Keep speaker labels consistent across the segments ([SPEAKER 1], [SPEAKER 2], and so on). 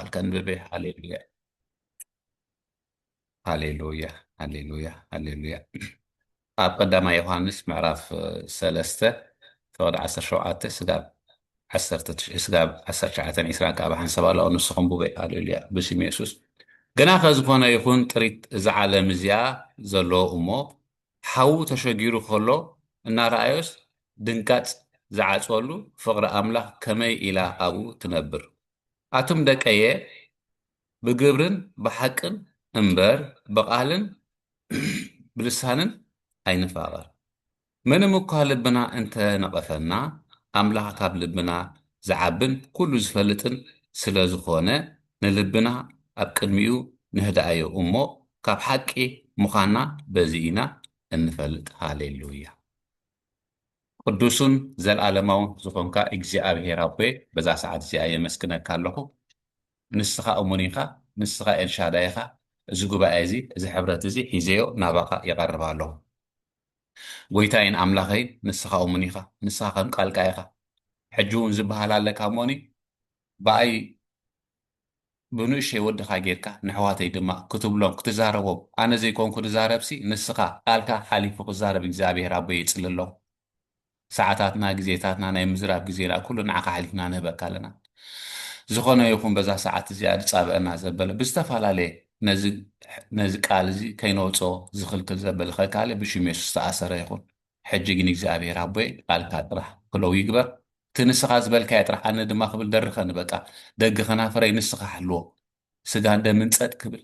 [SPEAKER 1] ኣልከንብቤ ሃሌሉያ ሃሌሉያ ሃሌሉያ ሃሌሉያ ኣብ ቀዳማ ዮሃንስ ምዕራፍ ሰለስተ ፍቕዲ ዓሰርተ ሸውዓተ ስጋብ ዓሰርተ ትሽዕ ስጋብ ዓሰርተ ትሽዓተን ዒስራን ከዓ ብሓንሳብ ኣለኦ ንስኹም ቡበይ ሃሌሉያ ብስም የሱስ ግና ከዝኾነ ይኹን ጥሪት እዛ ዓለም እዚኣ ዘለዎ እሞ ሓዉ ተሸጊሩ ከሎ እናረኣዮስ ድንጋፅ ዝዓፅወሉ ፍቕሪ ኣምላኽ ከመይ ኢላ ኣብኡ ትነብር ኣቱም ደቀየ ብግብርን ብሓቅን እምበር ብቓልን ብልሳንን ኣይንፋቐር። ምንም እኳ ልብና እንተ ነቐፈና ኣምላኽ ካብ ልብና ዝዓብን ኩሉ ዝፈልጥን ስለ ዝኾነ ንልብና ኣብ ቅድሚኡ ነህድኣዮ እሞ ካብ ሓቂ ምዃንና በዚ ኢና እንፈልጥ ሃሌሉያ። ቅዱሱን ዘልኣለማውን ዝኾንካ እግዚኣብሄር ኣቦየ በዛ ሰዓት እዚኣ የመስግነካ ኣለኹ ንስኻ እሙን ኢኻ ንስኻ ኤልሻዳይ ኢኻ እዚ ጉባኤ እዚ እዚ ሕብረት እዚ ሒዘዮ ናባኻ ይቐርብ ኣለኹ ጎይታይን ኣምላኸይን ንስኻ እሙን ኢኻ ንስኻ ከም ቃልካ ኢኻ ሕጂ እውን ዝበሃል ኣለካ እሞኒ ብኣይ ብንእሽተይ ወድኻ ጌርካ ነሕዋተይ ድማ ክትብሎም ክትዛረቦም ኣነ ዘይኮንኩ ድዛረብሲ ንስኻ ቃልካ ሓሊፉ ክዛረብ እግዚኣብሄር ኣቦይ የጽልሎም ሰዓታትና ግዜታትና ናይ ምዝራብ ግዜና ኩሉ ንዓኻ ኣሕሊፍና ንህበካ ኣለና ዝኾነ ይኹን በዛ ሰዓት እዚኣ ድጻብኣና ዘበለ ብዝተፈላለየ ነዚ ነዚ ቃል እዚ ከይነውጾ ዝኽልክል ዘበለ ከካለ ብሽም የሱስ ዝተኣሰረ ይኹን ሕጂ ግን እግዚኣብሔር ኣቦየ ቃልካ ጥራሕ ክለው ይግበር እቲ ንስኻ ዝበልካዮ ጥራሕ ኣነ ድማ ክብል ደርኸኒ በቃ ደጊ ከናፍረይ ንስኻ ሓልዎ ስጋን ደምን ጸጥ ክብል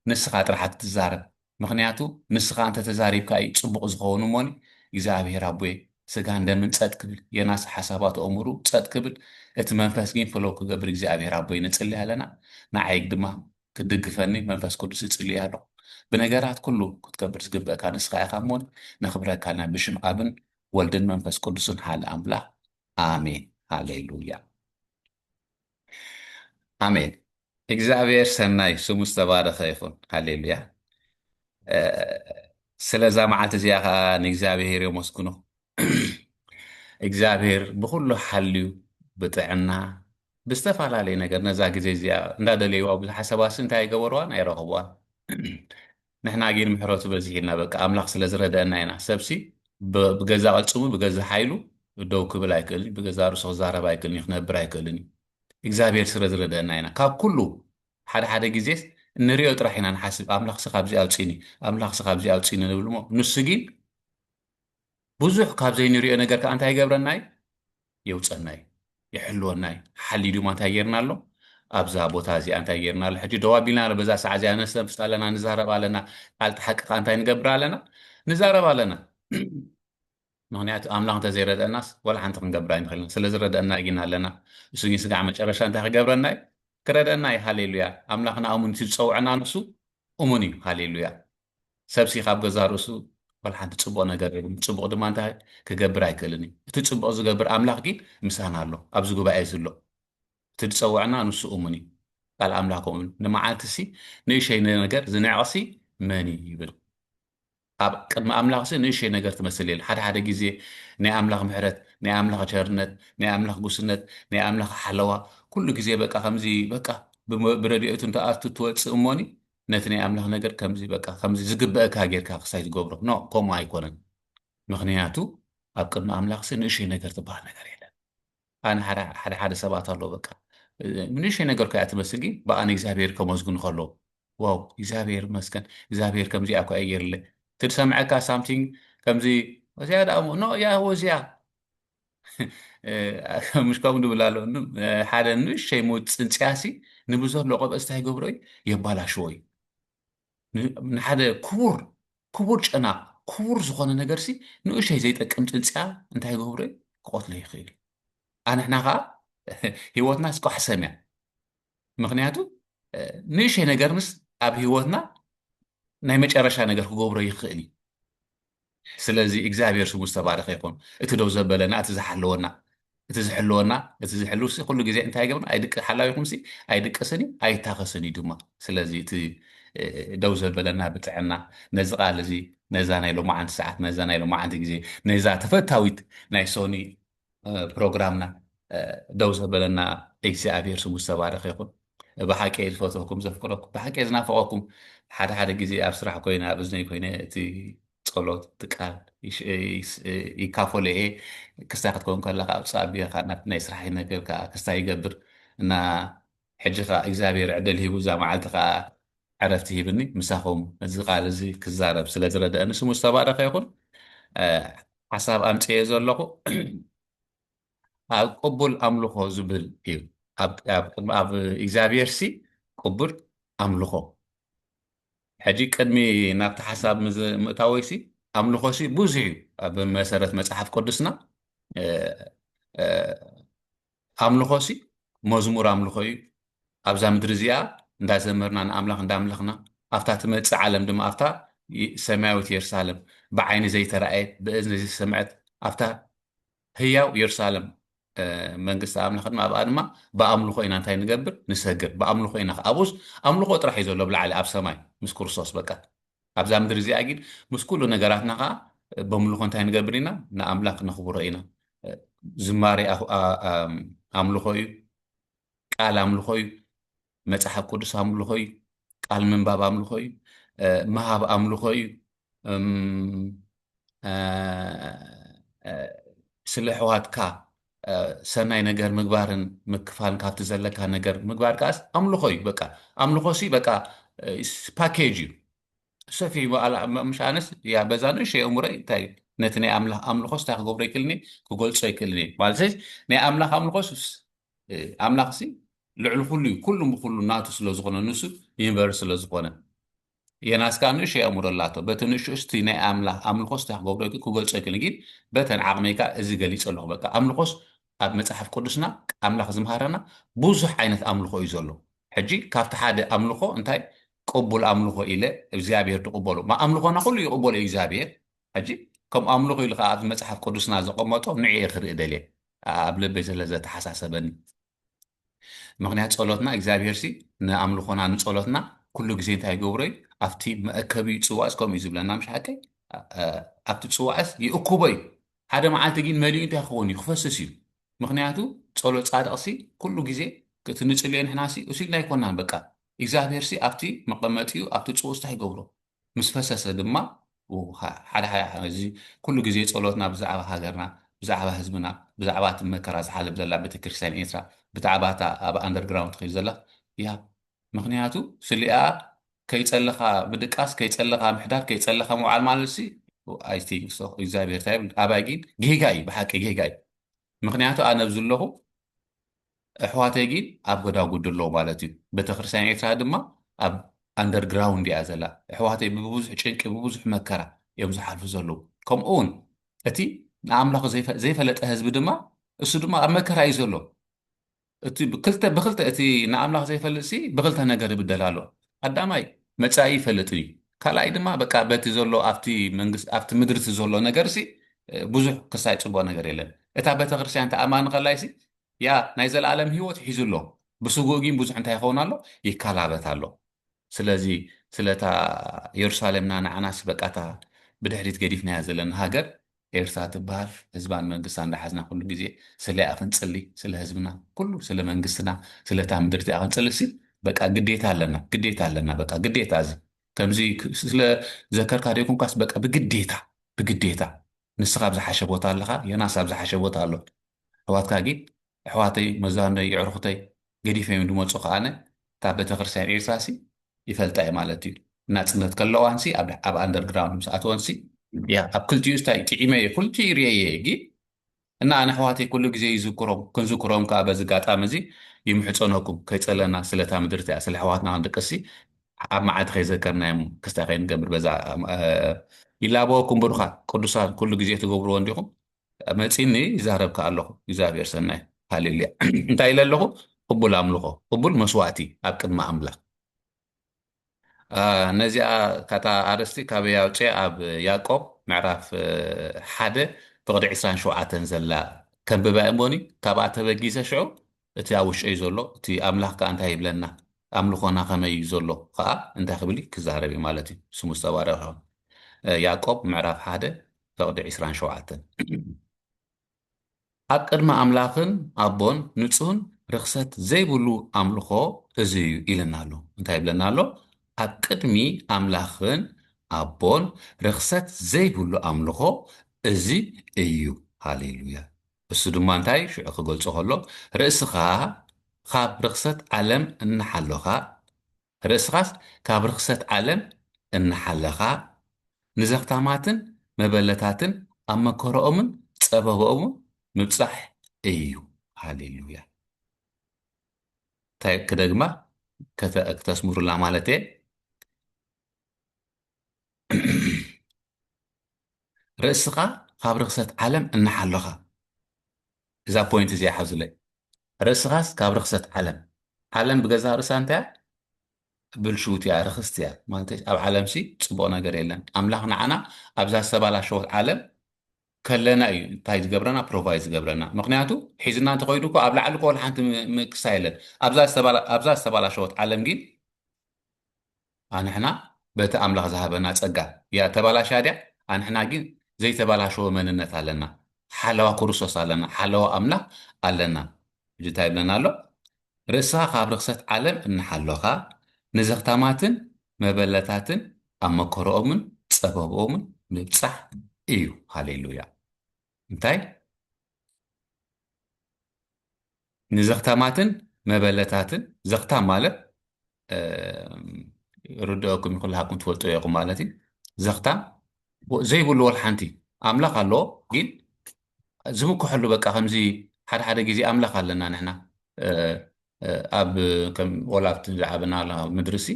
[SPEAKER 1] ንስኻ ጥራሕ ኣትትዛረብ ምኽንያቱ ንስኻ እንተ ተዛሪብካ እዩ ጽቡቕ ዝኸውን እሞኒ እግዚኣብሔር ኣቦየ ስጋን ደምን ጸጥ ክብል የናስ ሓሳባት ኦሙሩ ጸጥ ክብል እቲ መንፈስ ግን ፍለው ክገብር እግዚኣብሔር ኣቦይ ንጽሊ ኣለና ንዓይግ ድማ ክትድግፈኒ መንፈስ ቅዱስ እጽልይ ኣለኹ። ብነገራት ኩሉ ክትከብር ዝግበእካ ንስኻ ኢኻ እሞን ነኽብረካ ኣልና ብሽም ኣብን ወልድን መንፈስ ቅዱስን ሃል ኣምላኽ ኣሜን ሃሌሉያ ኣሜን እግዚኣብሔር ሰናይ ስሙ ዝተባረኸ ይኹን ሃሌሉያ ስለዛ መዓልቲ እዚኣ ከዓ ንእግዚኣብሔር የመስግኖ እግዚኣብሔር ብኹሉ ሓልዩ ብጥዕና ብዝተፈላለየ ነገር ነዛ ግዜ እዚኣ እንዳደለይዋ ብዙሕ ሓሰባሲ እንታይ ኣይገበርዋን ኣይረኸብዋን ንሕና ግን ምሕረቱ በዚሒልና በቃ ኣምላኽ ስለ ዝረደአና ኢና ሰብሲ ብገዛ ቅልፅሙ ብገዛ ሓይሉ ደው ክብል ኣይክእልን ብገዛ ርእሱ ክዛረብ ኣይክእልን ክነብር ኣይክእልን እዩ እግዚኣብሔር ስለ ዝረደአና ኢና ካብ ኩሉ ሓደ ሓደ ግዜ እንሪኦ ጥራሕ ኢና ንሓስብ ኣምላኽሲ ካብዚ ኣውፅኒ ኣምላኽሲ ካብዚ ኣውፅኒ ንብል እሞ ንሱ ግን ብዙሕ ካብ ዘይንሪኦ ነገር ከዓ እንታይ ይገብረና እዩ የውፀና እዩ ይሕልወና እዩ ሓሊ ድማ እንታይ ጌርና ኣሎ ኣብዛ ቦታ እዚኣ እንታይ ጌርና ኣሎ ሕጂ ደው ኣቢልና ኣሎ በዛ ሰዓ እዚኣ ነስተንፍስ ኣለና ንዛረብ ኣለና ቃልቲ ሓቂ ከዓ እንታይ ንገብር ኣለና ንዛረብ ኣለና ምክንያቱ ኣምላኽ እንተዘይረድአናስ ወላ ሓንቲ ክንገብር ኣይንኽእልን ስለ ዝረድአና እጊና ኣለና እሱ ግን ስጋዕ መጨረሻ እንታይ ክገብረና እዩ ክረድአና እዩ ሃሌሉያ ኣምላኽና እሙን እቲ ዝፀውዐና ንሱ እሙን እዩ ሃሌሉያ ሰብሲ ካብ ገዛእ ርእሱ ዋላ ሓንቲ ጽቡቕ ነገር የብሉን፣ ጽቡቕ ድማ እንታይ ክገብር ኣይክእልን እዩ። እቲ ጽቡቕ ዝገብር ኣምላኽ ግን ምሳና ኣሎ፣ ኣብዚ ጉባኤ እዚ ኣሎ። እቲ ዝጸውዐና ንሱ እሙን እዩ፣ ቃል ኣምላኽ ከምኡ ይብል፣ ንመዓልቲሲ ንእሸይ ነገር ዝንዕቕሲ መን እዩ ይብል። ኣብ ቅድሚ ኣምላኽሲ ንእሸይ ነገር ትመስል የለን። ሓደ ሓደ ግዜ ናይ ኣምላኽ ምሕረት፣ ናይ ኣምላኽ ቸርነት፣ ናይ ኣምላኽ ጉስነት፣ ናይ ኣምላኽ ሓለዋ ኩሉ ግዜ በቃ ከምዚ በቃ ብረድኤቱ እንተኣቱ ትወጽእ እሞኒ ነቲ ናይ ኣምላኽ ነገር ከምዚ በቃ ከምዚ ዝግበእካ ጌርካ ክሳይ ዝገብሮ no ከምኡ ኣይኮነን ምኽንያቱ ኣብ ቅድሚ ኣምላኽሲ ንእሽይ ነገር ትበሃል ነገር የለን ኣነ ሓደ ሓደ ሓደ ሰባት ኣሎ በቃ ንእሽይ ነገር ኮያ ትመስል ግን ብኣ ንእግዚኣብሔር ከመስግኑ ከሎ ዋው እግዚኣብሔር መስገን እግዚኣብሔር ከምዚኣ ኮያ ጌርለ ትድሰምዐካ ሳምቲንግ ከምዚ እዚኣ ደኣ ኖ ያህወ እዚኣ ምሽ ከምኡ ንብል ኣሎ ሓደ ንእሸይ ሞት ፅንፅያሲ ንብዘሎ ቆበፅ እንታይ ይገብሮ እዩ የባላሽዎ እዩ ንሓደ ክቡር ክቡር ጨና ክቡር ዝኾነ ነገርሲ ንእሸይ ዘይጠቅም ፅንፅያ እንታይ ይገብሮ እዩ ክቆትሎ ይኽእል ኣንሕና ከዓ ህይወትና ስቋሕሰም እያ ምክንያቱ ንእሸይ ነገር ምስ ኣብ ህይወትና ናይ መጨረሻ ነገር ክገብሮ ይኽእል እዩ ስለዚ እግዚኣብሔር ስሙ ዝተባረኸ ይኹን እቲ ደው ዘበለና እቲ ዝሓለወና እቲ ዝሕልወና እቲ ዝሕልው ሲ ኩሉ ግዜ እንታይ ገብና ኣይድቅ ሓላዊኹም ሲ ኣይድቅስን እዩ ኣይታኸስን እዩ ድማ ስለዚ እቲ ደው ዘበለና ብጥዕና ነዚ ቃል እዚ ነዛ ናይ ሎማዓንቲ ሰዓት ነዛ ናይ ሎማዓንቲ ግዜ ነዛ ተፈታዊት ናይ ሶኒ ፕሮግራምና ደው ዘበለና እግዚኣብሔር ስሙ ዝተባረኸ ይኹን። ብሓቂ እየ ዝፈትወኩም ዘፍቅረኩም ብሓቂ እየ ዝናፈቐኩም ሓደ ሓደ ግዜ ኣብ ስራሕ ኮይነ ኣብ እዝነይ ኮይነ እቲ ጸሎት እቲ ቃል ይካፈሎ እየ ክስታይ ክትከውን ከለካ ኣብፃ ኣብካ ናይ ስራሕ ነገር ክስታይ ይገብር እና ሕጂ ከኣ እግዚኣብሄር ዕድል ሂቡ እዛ መዓልቲ ከኣ ዕረፍቲ ሂብኒ ምሳኹም እዚ ቃል እዚ ክዛረብ ስለ ዝረደእኒ ስሙ ዝተባረኸ ይኹን ሓሳብ ኣምጽኤ ዘለኹ ኣብ ቅቡል ኣምልኾ ዝብል እዩ ኣብ እግዚኣብሄር ሲ ቅቡል ኣምልኾ ሕጂ ቅድሚ ናብቲ ሓሳብ ምእታወይ ሲ ኣምልኾ ሲ ብዙሕ እዩ ኣብ መሰረት መጽሓፍ ቅዱስና ኣምልኾሲ መዝሙር ኣምልኾ እዩ። ኣብዛ ምድሪ እዚኣ እንዳዘመርና ንኣምላኽ እንዳምለኽና ኣብታ ትመጽእ ዓለም ድማ ኣብታ ሰማያዊት የሩሳለም ብዓይኒ ዘይተራእየት ብእዝኒ ዘይተሰምዐት ኣብታ ህያው የሩሳለም መንግስቲ ኣምላኽ ድማ ኣብኣ ድማ ብኣምልኾ ኢና እንታይ ንገብር ንሰግር ብኣምልኾ ኢና ኣብኡስ ኣምልኾ ጥራሕ እዩ ዘሎ ብላዕሊ ኣብ ሰማይ ምስ ክርስቶስ በቃ ኣብዛ ምድሪ እዚኣ ግን ምስ ኩሉ ነገራትና ከኣ በምልኾ እንታይ ንገብር ኢና ንኣምላኽ ነኽብሮ ኢና ዝማሬ ኣምልኾ እዩ ቃል ኣምልኾ እዩ መጽሓፍ ቅዱስ ኣምልኾ እዩ ቃል ምንባብ ኣምልኾ እዩ ምሃብ ኣምልኾ እዩ ስለ ሕዋትካ ሰናይ ነገር ምግባርን ምክፋን ካብቲ ዘለካ ነገር ምግባር ከዓስ ኣምልኾ እዩ በቃ ኣምልኾ ሲ በቃ ፓኬጅ እዩ ሰፊ ምሽ ኣነስ ያ በዛ ንእሸ እምሮይ እንታይ ነቲ ናይ ኣምላኽ ኣምልኾስ እንታይ ክገብሮ ይክእልኒ ክገልጾ ይክእልኒ ማለት ናይ ኣምላኽ ኣምልኾስ ኣምላኽ ሲ ልዕሊ ኩሉ እዩ ኩሉ ብኩሉ ናቱ ስለዝኾነ ንሱ ዩኒቨርስ ስለዝኾነ የናስ ካኣ ንእሽተይ ኣእምሮ ኣላቶ በቲ ንእሽተኡስ እቲ ናይ ኣምላኽ ኣምልኾስ ታይ ክገብሮ ኢልኪ ክገልጾ ኣይክእልን ግን በተን ዓቕመይ ካኣ እዚ ገሊጸ ኣለኹ በቃ ኣምልኾስ ኣብ መጽሓፍ ቅዱስና ኣምላኽ ዝምሃረና ብዙሕ ዓይነት ኣምልኾ እዩ ዘሎ ሕጂ ካብቲ ሓደ ኣምልኾ እንታይ ቅቡል ኣምልኾ ኢለ እግዚኣብሔር ትቕበሎ ማ ኣምልኾና ኩሉ ይቕበሎ እዩ እግዚኣብሔር ሕጂ ከም ኣምልኾ ኢሉ ካኣ ኣብዚ መጽሓፍ ቅዱስና ዘቐመጦ ንዕኤ ክርኢ ደልየ ኣብ ልበይ ስለ ዘተሓሳሰበኒ ምኽንያት ጸሎትና እግዚኣብሔርሲ ንኣምልኾና ንጸሎትና ኩሉ ግዜ እንታይ ይገብሮ እዩ ኣብቲ መእከቢ ጽዋዕስ ከምኡ እዩ ዝብለና ምሽ ሓቀይ ኣብቲ ጽዋዕስ ይእኩቦ እዩ ሓደ መዓልቲ ግን መሊኡ እንታይ ክኸውን እዩ ክፈስስ እዩ ምክንያቱ ጸሎት ጻድቕሲ ኩሉ ግዜ እቲ ንጽልዮ ንሕናሲ እሱ ኢልና ኣይኮናን በቃ እግዚኣብሄርሲ ኣብቲ መቐመጢኡ ኣብቲ ጽውስታ ይገብሮ ምስ ፈሰሰ ድማ እዚ ኩሉ ግዜ ጸሎትና ብዛዕባ ሃገርና ብዛዕባ ህዝብና ብዛዕባ እቲ መከራ ዝሓልፍ ዘላ ቤተክርስትያን ኤርትራ ብታዕባ እታ ኣብ ኣንደርግራውንድ ትከይድ ዘላ እያ ምክንያቱ ስሊኣ ከይጸለኻ ምድቃስ ከይጸለኻ ምሕዳር ከይጸለኻ ምውዓል ማለት ሲ ኣይ ቲንክ ሶ እግዚኣብሔር እንታይ ይብል ኣባይ ግን ጌጋ እዩ ብሓቂ ጌጋ እዩ ምክንያቱ ኣነ ኣብዚ ኣለኹ እሕዋተይ ጊን ኣብ ጎዳጉዲ ኣለዉ ማለት እዩ በተክርስትያን ኤርትራ ድማ ኣብ ኣንደር ግራውንድ እያ ዘላ እሕዋተይ ብብዙሕ ጭንቂ ብብዙሕ መከራ እዮም ዝሓልፉ ዘለዉ ከምኡ እውን እቲ ንኣምላኹ ዘይፈለጠ ህዝቢ ድማ እሱ ድማ ኣብ መከራ እዩ ዘሎ እቲ ብክልተ ብክልተ እቲ ንኣምላኽ ዘይፈልጥሲ ብክልተ ነገር ይብደል ኣሎ ቀዳማይ መጻኢ ይፈልጥ ድዩ ካልኣይ ድማ በቃ በቲ ዘሎ ኣብቲ መንግስቲ ኣብቲ ምድርቲ ዘሎ ነገርሲ ብዙሕ ክሳይ ጽቡቅ ነገር የለን እታ ቤተክርስትያን ተኣማኒ ከላይሲ ያ ናይ ዘለኣለም ህይወት ሒዙ ኣሎ ብስጉእ ግን ብዙሕ እንታይ ይኸውን ኣሎ ይከላበት ኣሎ ስለዚ ስለታ የሩሳሌምና ንዓናሲ በቃታ ብድሕሪት ገዲፍናያ ዘለና ሃገር ኤርትራ ትብሃል ህዝባን መንግስታን እንዳሓዝና ኩሉ ግዜ ስለያ ክንጽሊ ስለ ህዝብና ኩሉ ስለ መንግስትና ስለ እታ ምድሪ እቲኣ ክንጽሊ ሲ በቃ ግዴታ ኣለና ግዴታ ኣለና በቃ ግዴታ እዚ ከምዚ ስለ ዘከርካ ደይኮንካስ በቃ ብግዴታ ብግዴታ ንስኻ ኣብ ዝሓሸ ቦታ ኣለኻ ዮናስ ኣብ ዝሓሸ ቦታ ኣሎ ኣሕዋትካ ግን ኣሕዋተይ መዛኖይ የዕሩኹተይ ገዲፈዮም ድመጹ ከኣነ እታ ቤተክርስትያን ኤርትራሲ ይፈልጣ እየ ማለት እዩ ናጽነት ከለዋንሲ ኣብ ኣብ ኣንደርግራውንድ ምስ ኣተወንሲ ያ ኣብ ክልቲኡ ስታይ ጥዒመ እየ ኩልቲኡ ርኤየ እየ ግን እና ኣነ ኣሕዋተይ ኩሉ ግዜ ይዝክሮም ክንዝክሮም ከዓ በዚ ጋጣሚ እዚ ይምሕፀነኩም ከይፀለና ስለታ ምድርቲ እያ ስለ ኣሕዋትና ክንድቅሲ ኣብ መዓልቲ ከይዘከርናዮም ክስታይ ከይንገብር በዛ ይላበወኩም ብሩኻት ቅዱሳን ኩሉ ግዜ ትገብርዎ እንዲኹም መጺኒ ይዛረብ ከኣ ኣለኹ እግዚኣብሔር ሰናይ ሃሌሉያ እንታይ ኢለ ኣለኹ ቅቡል ኣምልኾ ቅቡል መስዋእቲ ኣብ ቅድሚ ኣምላኽ ነዚኣ ካታ ኣርስቲ ካበይ ኣውፅኤ ኣብ ያዕቆብ ምዕራፍ ሓደ ፍቕዲ ዕስራን ሸውዓተን ዘላ ከንብባ እሞኒ ካብኣ ተበጊሰ ሽዑ እቲ ኣብ ውሽጠይ ዘሎ እቲ ኣምላኽ ከኣ እንታይ ይብለና ኣምልኾና ከመይ እዩ ዘሎ ከኣ እንታይ ክብል እዩ ክዛረብ እዩ ማለት እዩ ስሙ ዝተባረኸ ይኹን ያዕቆብ ምዕራፍ ሓደ ፈቕዲ ዕስራን ሸውዓተን ኣብ ቅድሚ ኣምላኽን ኣቦን ንጹህን ርኽሰት ዘይብሉ ኣምልኾ እዚ እዩ ኢለና ኣሎ እንታይ ይብለና ኣሎ ኣብ ቅድሚ ኣምላኽን ኣቦን ርኽሰት ዘይብሉ ኣምልኾ እዚ እዩ ሃሌሉያ እሱ ድማ እንታይ ሽዑ ክገልጾ ከሎ ርእስኻ ኻብ ርኽሰት ዓለም እናሓሎኻ ርእስኻስ ካብ ርኽሰት ዓለም እናሓለኻ ንዘኽታማትን መበለታትን ኣብ መከረኦምን ጸበባኦምን ምብጻሕ እዩ ሃሌሉያ እንታይ ክደግማ ከተስምሩላ ማለት እየ ርእስኻ ካብ ርኽሰት ዓለም እናሓለኻ እዛ ፖይንት እዚኣ ሓዙለይ ርእስኻስ ካብ ርኽሰት ዓለም ዓለም ብገዛ ርእሳ እንታይ ብልሽውት እያ ርኽስቲ እያ ማለት ኣብ ዓለም ሲ ፅቡቕ ነገር የለን ኣምላኽ ንዓና ኣብዛ ዝተባላሸወት ዓለም ከለና እዩ እንታይ ዝገብረና ፕሮቫይ ዝገብረና ምክንያቱ ሒዝና እንተኸይዱ እኮ ኣብ ላዕሊ ኮል ሓንቲ ምክሳ የለን ኣብዛ ዝተባላሸወት ዓለም ግን ኣንሕና በቲ ኣምላኽ ዝሃበና ጸጋ እያ ተባላሽያ ድያ? ኣንሕና ግን ዘይተባላሸወ መንነት ኣለና። ሓለዋ ክርስቶስ ኣለና። ሓለዋ ኣምላኽ ኣለና። ሕጂ እንታይ ይብለና ኣሎ? ርእስኻ ካብ ርኽሰት ዓለም እናሓሎኻ፣ ንዘኽታማትን መበለታትን ኣብ መከርኦምን ጸበብኦምን ምብጻሕ እዩ። ሃሌሉያ! እንታይ ንዘኽታማትን መበለታትን ዘኽታም ማለት ርድኦኩም ይኹላሃኩም ትፈልጡ ኢኹም ማለት እዩ ዘኽታም ዘይብሉ ወል ሓንቲ ኣምላኽ ኣለዎ ግን ዝምክሐሉ በቃ ከምዚ ሓደ ሓደ ግዜ ኣምላኽ ኣለና ንሕና ኣብ ከም ወላ ኣብቲ ዝዓበናላ ምድሪሲ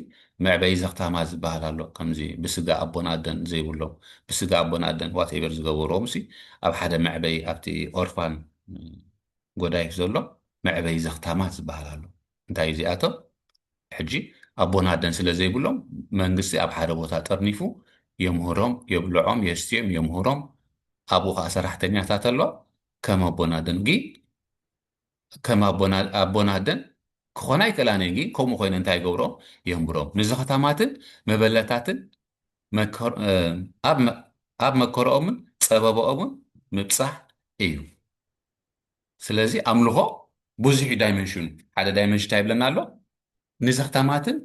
[SPEAKER 1] መዕበዪ ዘኽታማ ዝበሃል ኣሎ ከምዚ ብስጋ ኣቦን ኣደን ዘይብሎም ብስጋ ኣቦን ኣደን ዋትኤቨር ዝገበርዎምሲ ኣብ ሓደ መዕበዪ ኣብቲ ኦርፋን ጎዳይፍ ዘሎ መዕበዪ ዘኽታማት ዝበሃል ኣሎ እንታይ እዩ እዚኣቶም ሕጂ ኣቦን ኣደን ስለ ዘይብሎም መንግስቲ ኣብ ሓደ ቦታ ጠርኒፉ የምህሮም የብልዖም የስትዮም የምህሮም ኣብኡ ከዓ ሰራሕተኛታት ኣሎ ከም ኣቦን ኣደን ግን ከም ኣቦን ኣደን ክኾና ኣይክእላን እየን ግን ከምኡ ኮይነን እንታይ ይገብሮ የንብሮም ንዝኸታማትን መበለታትን ኣብ መከረኦምን ፀበበኦምን ምብፃሕ እዩ ስለዚ ኣምልኾ ብዙሕ ዳይመንሽኑ ሓደ ዳይመንሽን እንታይ ይብለና ኣሎ ንዘኽታማትን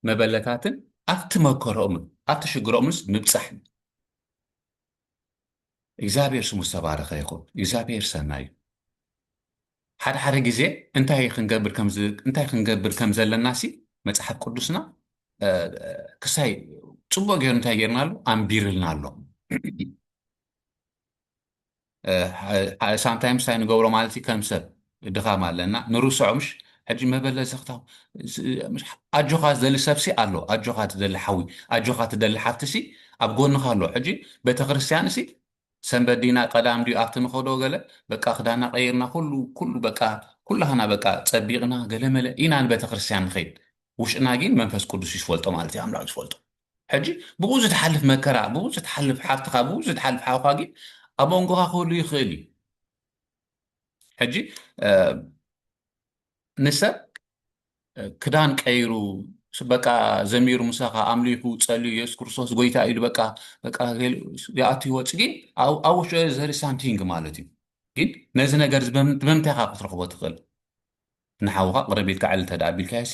[SPEAKER 1] መበለታትን ኣብቲ መከረኦምን ኣብቲ ሽግሮኦምንስ ምብፃሕ እዩ እግዚኣብሔር ስሙ ዝተባረኸ ይኹን እግዚኣብሔር ሰናይ እዩ። ሓደ ሓደ ግዜ እንታይ ክንገብር እንታይ ክንገብር ከም ዘለና ሲ መፅሓፍ ቅዱስና ክሳይ ፅቡቅ ገይሩ እንታይ ገይርና ኣሎ ኣንቢርልና ኣሎ ሳምታይምስ እንታይ ንገብሮ ማለት እዩ ከም ሰብ ድኻም ኣለና ንርሶዖ ምሽ ሕጂ መበለ ዘኽታ ኣጆኻ ዝደሊ ሰብሲ ኣሎ ኣጆኻ ትደሊ ሓዊ ኣጆኻ ትደሊ ሓፍትሲ ኣብ ጎንኻ ኣሎ ሕጂ ቤተክርስትያንሲ ሰንበት ዲና ቀዳም ድዩ ኣብቲ ንኸዶ ገለ በቃ ክዳና ቀይርና ኩሉ ኩሉ በቃ ኩላህና በቃ ጸቢቕና ገለመለ ኢና ንቤተክርስትያን ንኸይድ ውሽጥና ግን መንፈስ ቅዱስ እዩ ዝፈልጦ ማለት እዩ ኣምላኽ ዝፈልጦ ሕጂ ብኡ ዝትሓልፍ መከራ ብኡ ዝትሓልፍ ሓፍትኻ ብኡ ዝትሓልፍ ሓውኻ ግን ኣብ መንጎኻ ክህሉ ይኽእል እዩ ሕጂ ንሰብ ክዳን ቀይሩ በቃ ዘሚሩ ምሳኻ ኣምሊኹ ጸልዩ የሱስ ክርስቶስ ጎይታ ኢሉ በቃ በቃ ይኣቱ ይወፅ ግን ኣብ ውሽጢ ዘሪ ሳምቲንግ ማለት እዩ ግን ነዚ ነገር ብምንታይ ካ ክትረኽቦ ትኽእል ንሓውካ ቅረብ ኢልካ ዕል እንተ ኣቢልካዮሲ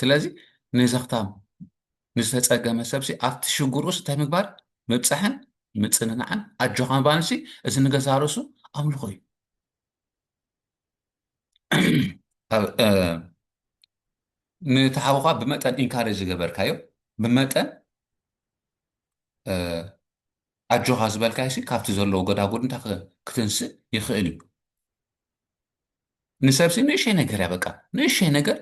[SPEAKER 1] ስለዚ ንዘኽታም ንዝተፀገመ ሰብሲ ኣብቲ ሽግር ኡስ እንታይ ምግባር ምብፃሕን ምፅንናዕን ኣጆኻ ምባልሲ እዚ ንገዛ ርእሱ ኣምልኾ እዩ ንተሓውኻ ብመጠን ኢንካሬጅ ዝገበርካዮ ብመጠን ኣጆኻ ዝበልካዮሲ ካብቲ ዘለዎ ጎዳጉድ እንታይ ክትንስእ ይኽእል እዩ ንሰብሲ ንእሸይ ነገር እያ በቃ ንእሸይ ነገር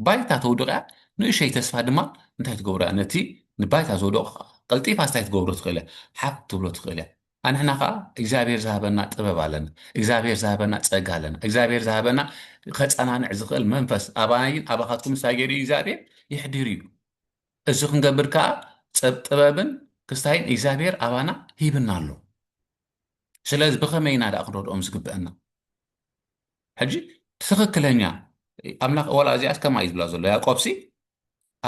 [SPEAKER 1] ባይታ ተውድቕ እያ ንእሸይ ተስፋ ድማ እንታይ ትገብሮ እያ ነቲ ንባይታ ዝወደቑ ቀልጢፋ ስታይ ትገብሮ ትኽእል እያ ሓፍ ትብሎ ትኽእል እያ ኣንሕና ከዓ እግዚኣብሔር ዝሃበና ጥበብ ኣለና እግዚኣብሔር ዝሃበና ፀጋ ኣለና እግዚኣብሔር ዝሃበና ከፀናንዕ ዝኽእል መንፈስ ኣባይን ኣባኻትኩም እንታይ ገይሩ እዩ እግዚኣብሔር ይሕድር እዩ እዚ ክንገብር ከዓ ጥበብን ክስታይን እግዚኣብሔር ኣባና ሂብና ኣሎ ስለዚ ብኸመይ ኢና ደኣ ክንረድኦም ዝግበአና? ሕጂ ትኽክለኛ ኣምላኽ ዋላ እዚኣስ ከምኣ እዩ ዝብላ ዘሎ ያዕቆብሲ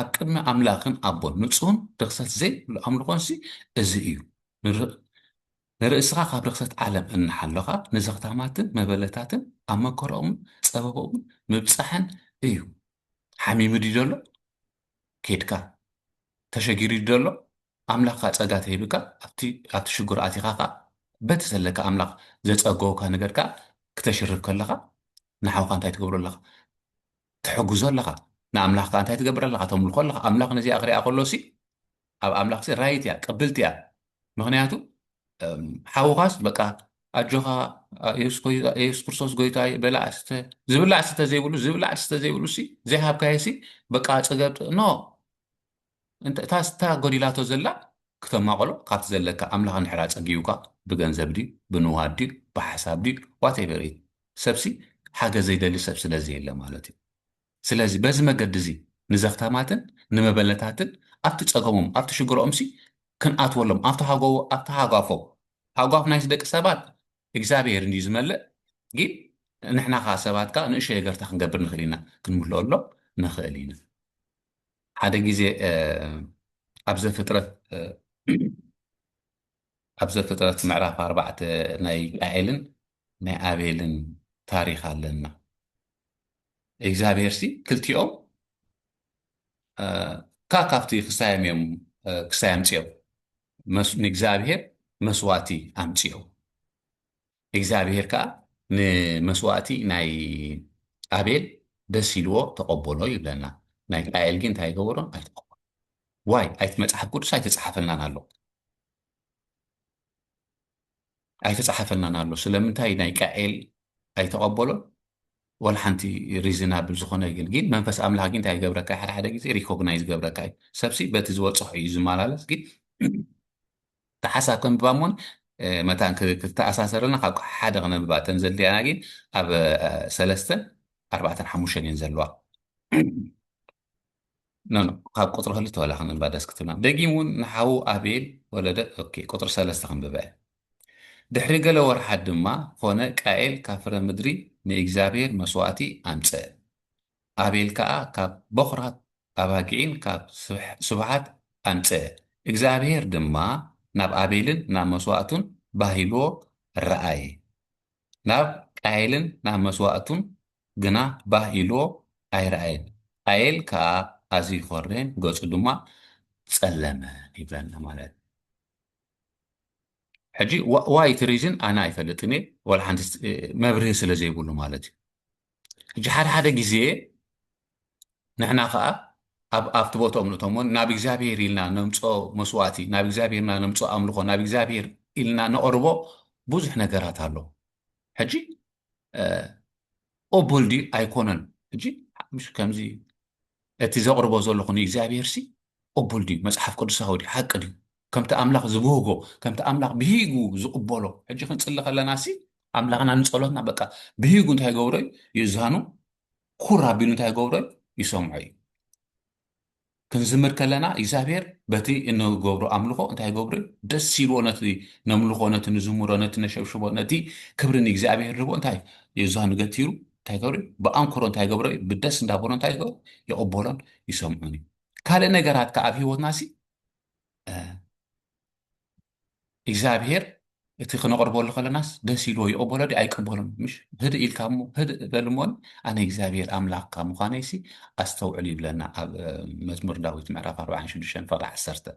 [SPEAKER 1] ኣብ ቅድሚ ኣምላኽን ኣቦን ንጹህን ርክሰት ዘይብሉ ኣምልኾንሲ እዚ እዩ ንርእስኻ ካብ ርክሰት ዓለም እናሓለኻ ንዘኽታማትን መበለታትን ኣብ መከረኦምን ጸበቦምን ምብጻሕን እዩ ሓሚሙ ድዩ ዘሎ ኬድካ ተሸጊሩ ድዩ ዘሎ ኣምላኽ ከኣ ጸጋ ተሂብካ ኣብቲ ኣብቲ ሽጉር ኣቲኻ ከኣ በቲ ዘለካ ኣምላኽ ዘጸገወካ ነገር ከኣ ክተሽርፍ ከለኻ ንሓውካ እንታይ ትገብሮ ኣለኻ ትሕግዞ ኣለኻ ንኣምላኽ ከኣ እንታይ ትገብር ኣለኻ ተምልኾ ኣለኻ ኣምላኽ ነዚኣ ክሪኣ ከሎሲ ኣብ ኣምላኽሲ ራይት እያ ቅብልቲ እያ ምኽንያቱ ሓውኻስ በቃ ኣጆኻ የሱስ ክርስቶስ ጎይታ እዩ በላዕ ስተ ዝብላዕ ስተ ዘይብሉ ዝብላዕ ስተ ዘይብሉ ሲ ዘይሃብካዮ ሲ በቃ ፅገብ ኖ እታ ስታ ጎዲላቶ ዘላ ክተማቐሎ ካብቲ ዘለካ ኣምላኽ ንሕራ ፀጊቡካ ብገንዘብ ድዩ ብንዋድ ድዩ ብሓሳብ ድዩ ዋቴቨር እዩ ሰብሲ ሓገዝ ዘይደሊ ሰብ ስለ ዘየለ ማለት እዩ ስለዚ በዚ መገዲ'ዚ ንዘኽታማትን ንመበለታትን ኣብቲ ጸገሞም ኣብቲ ሽግሮኦምሲ ክንኣትወሎም ኣብቲ ሃጎ ኣብቲ ሃጓፎም ሃጓፍ ናይዚ ደቂ ሰባት እግዚኣብሄር እንድዩ ዝመልእ ጊን ንሕና ከኣ ሰባት ከኣ ንእሽቶይ ነገርታ ክንገብር ንኽእል ኢና ክንምልኦሎም ንኽእል ኢና ሓደ ግዜ ኣብ ዘፍጥረት ኣብ ዘፍጥረት ምዕራፍ ኣርባዕተ ናይ ቃኤልን ናይ ኣቤልን ታሪኽ ኣለና እግዚኣብሄርሲ ክልቲኦም እካ ካብቲ ክሳዮም እዮም ክሳይ ኣምፅኦም ንእግዚኣብሄር መስዋእቲ ኣምፅኦም እግዚኣብሄር ከኣ ንመስዋእቲ ናይ ኣቤል ደስ ኢልዎ ተቐበሎ ይብለና። ናይ ቃኤል ግን እንታይ ይገበሮ ኣይተቐበሎ ዋይ ኣይቲ መጽሓፍ ቅዱስ ኣይተጻሓፈልናን ኣሎ ኣይተጻሓፈልናን ኣሎ ስለምንታይ ናይ ቃኤል ኣይተቐበሎን ወላ ሓንቲ ሪዝናብል ዝኾነ ግን ግን መንፈስ ኣምላኽ ግን እንታይ ይገብረካ ሓደ ሓደ ግዜ ሪኮግናይዝ ገብረካ እዩ ሰብሲ በቲ ዝበፅሖ እዩ ዝመላለስ ግን እቲ ሓሳብ ከንብባ እሞን መታን ክተኣሳሰረልና ካብ ሓደ ክነንብባ እተን ዘድልያና ግን ኣብ ሰለስተን ኣርባዕተን ሓሙሽተን እየን ዘለዋ ካብ ቁፅሪ ክልተ ዋላ ክንንባ ደስ ክትብልና ደጊም እውን ንሓዉ ኣቤል ወለደ ቁፅሪ ሰለስተ ክንብበ ድሕሪ ገለ ወርሓት ድማ ኮነ ቃኤል ካብ ፍረ ምድሪ ንእግዚኣብሔር መስዋእቲ ኣምፀ ኣቤል ከኣ ካብ በዅራት ኣባጊዒን ካብ ስብሓት ኣምጽአ። እግዚኣብሄር ድማ ናብ ኣቤልን ናብ መስዋእቱን ባህ ኢልዎ ረኣየ፣ ናብ ቃየልን ናብ መስዋእቱን ግና ባህ ኢልዎ ኣይረኣየን፣ ቃየል ከኣ ኣዝዩ ኰረየን፣ ገጹ ድማ ጸለመ ይብለና ማለት እዩ። ሕጂ ዋይ እቲ ሪዝን ኣነ ኣይፈልጥን እየ፣ ዋላ ሓንቲ መብርሂ ስለ ዘይብሉ ማለት እዩ። ሕጂ ሓደ ሓደ ግዜ ንሕና ከዓ ኣብቲ ቦትኦ እምነቶም ን ናብ እግዚኣብሄር ኢልና ነምፆ መስዋእቲ ናብ እግዚኣብሄርና ነምፆ ኣምልኾ ናብ እግዚኣብሄር ኢልና ነቕርቦ ብዙሕ ነገራት ኣሎ ሕጂ ኦቦልዲ ኣይኮነን ሕጂ ከምዚ እቲ ዘቕርቦ ዘለኹ ንእግዚኣብሄርሲ ቅቡል ድዩ? መጽሓፍ ቅዱሳዊ ድዩ? ሓቂ ድዩ? ከምቲ ኣምላኽ ዝብህጎ፣ ከምቲ ኣምላኽ ብሂጉ ዝቕበሎ፣ ሕጂ ክንጽሊ ከለናሲ ኣምላኽና ንጸሎትና በቃ ብሂጉ እንታይ ይገብሮ እዩ? ይእዛኑ፣ ኩር ኣቢሉ እንታይ ይገብሮ እዩ? ይሰምዖ እዩ። ክንዝምር ከለና እግዚኣብሄር በቲ እንገብሮ ኣምልኾ እንታይ ይገብሮ እዩ? ደስ ኢልዎ ነቲ ነምልኾ፣ ነቲ ንዝምሮ፣ ነቲ ነሸብሽቦ፣ ነቲ ክብሪ ንእግዚኣብሄር ንህቦ እንታይ ይእዛኑ ገቲሩ እንታይ ይገብር እዩ? ብኣንክሮ እንታይ ይገብሮ እዩ? ብደስ እንዳበሎ እንታይ ይገብር? ይቕበሎን ይሰምዑን እዩ። ካልእ ነገራት ከዓ ኣብ ህይወትና ሲ እግዚኣብሄር እቲ ክነቕርበሉ ከለናስ ደስ ኢልዎ ይቕበሎ ዲ ኣይቅበሎን ምሽ ህድእ ኢልካ እሞ ህድእ በል እሞን ኣነ እግዚኣብሄር ኣምላኽካ ምዃነይ ሲ ኣስተውዕል ይብለና ኣብ መዝሙር ዳዊት ምዕራፍ 46 ፈቕዲ 10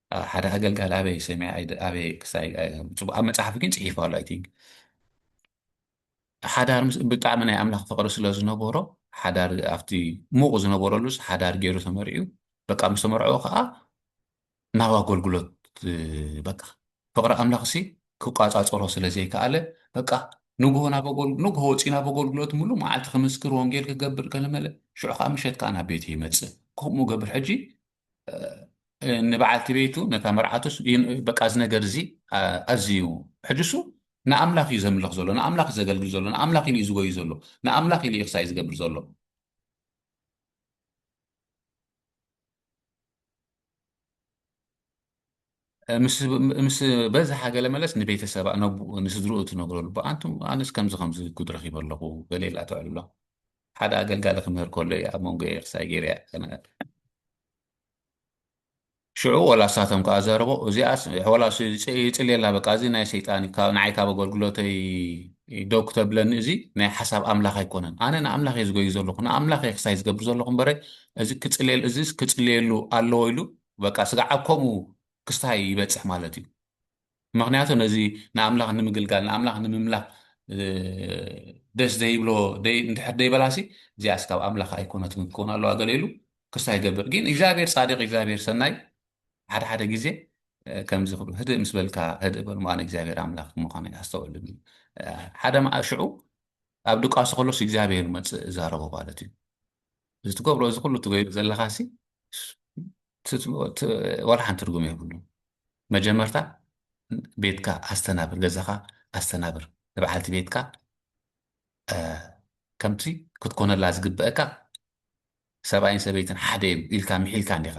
[SPEAKER 1] ሓደ ኣገልጋሊ ኣበይ ሰሚዐ ኣይደ- ኣበይ ክሳይ ኣይ- ጽቡቅ ኣብ መጽሓፍ ግን ጽሒፉ ኣሎ ኣይ ቲንክ ሓዳር ምስ ብጣዕሚ ናይ ኣምላኽ ፍቅሪ ስለ ዝነበሮ ሓዳር ኣብቲ ሙቅ ዝነበረሉስ ሓዳር ገይሩ ተመርዕዩ በቃ ምስ ተመርዐዎ ከዓ ናብ ኣገልግሎት እ፣ በቃ ፍቅሪ ኣምላኽ ሲ ክቋጻጸሮ ስለ ዘይከኣለ በቃ ንግሆ ናብ ኣገልግ ንግሆ ወጺኡ ናብ ኣገልግሎት ምሉእ መዓልቲ ክምስክር ወንጌል ክገብር ከለመለ ሽዑ ከዓ ምሸት ከዓ ናብ ቤቱ ይመጽእ ከምኡ ገብር ሕጂ ንበዓልቲ ቤቱ ነታ መርዓቱ በቃ እዚ ነገር እዚ ኣዝዩ ሕጅሱ ንኣምላኽ እዩ ዘምልኽ ዘሎ ንኣምላኽ እዩ ዘገልግል ዘሎ ንኣምላኽ ኢሉ እዩ ዝጎዩ ዘሎ ንኣምላኽ ኢሉ እዩ ክሳይ ዝገብር ዘሎ ምስ በዝሓ ገለ መለስ ንቤተሰባ ነቡኡ ንስድርኡ ትነግረሉ ብኣንቱ ኣነስ ከምዚ ከምዚ ጉድ ረኺበ ኣለኹ ገለ ኢላ ትዕልሎ ሓደ ኣገልጋሊ ክምህር ከሎ እዩ ኣብ መንጎ ኤርሳይ ገይርያ ተነገር ሽዑ ወላ እሳቶም ከዓ ዘረቦ እዚኣስ ወላ ይፅልየላ በቃ እዚ ናይ ሰይጣን ንዓይ ካብ ኣገልግሎተይ ደው ክተብለኒ እዚ ናይ ሓሳብ ኣምላኽ ኣይኮነን ኣነ ንኣምላኽ እየ ዝጎዩ ዘለኹ ንኣምላኽ እየ ክሳይ ዝገብር ዘለኹ እምበረ እዚ ክፅልየሉ እዚ ክፅልየሉ ኣለዎ ኢሉ በቃ ስጋዕ ኣብ ከምኡ ክስታይ ይበጽሕ ማለት እዩ ምክንያቱ ነዚ ንኣምላኽ ንምግልጋል ንኣምላኽ ንምምላኽ ደስ ዘይብሎ እንድሕር ደይበላሲ እዚኣ ስካብ ኣምላኽ ኣይኮነትን ክኸውን ኣለዋ ገለ ኢሉ ክስታ ይገብር ግን እግዚኣብሔር ፃዲቅ እግዚኣብሔር ሰናይ ሓደ ሓደ ግዜ ከምዚ ክብሉ ህድእ ምስ በልካ ህድእ በል ምኣነ እግዚኣብሔር ኣምላኽ ምዃኑ ኣስተውዕሉ ሓደ መኣ ሽዑ ኣብ ድቃሱ ከሎስ እግዚኣብሔር መፅእ እዛረቦ ማለት እዩ እዚ ትገብሮ እዚ ኩሉ ትገይሩ ዘለኻሲ ዋላ ሓንቲ ትርጉም የብሉን መጀመርታ ቤትካ ኣስተናብር ገዛኻ ኣስተናብር ንበዓልቲ ቤትካ ከምቲ ክትኮነላ ዝግበአካ ሰብኣይን ሰበይትን ሓደ እዮም ኢልካ ምሒልካ እንዲኻ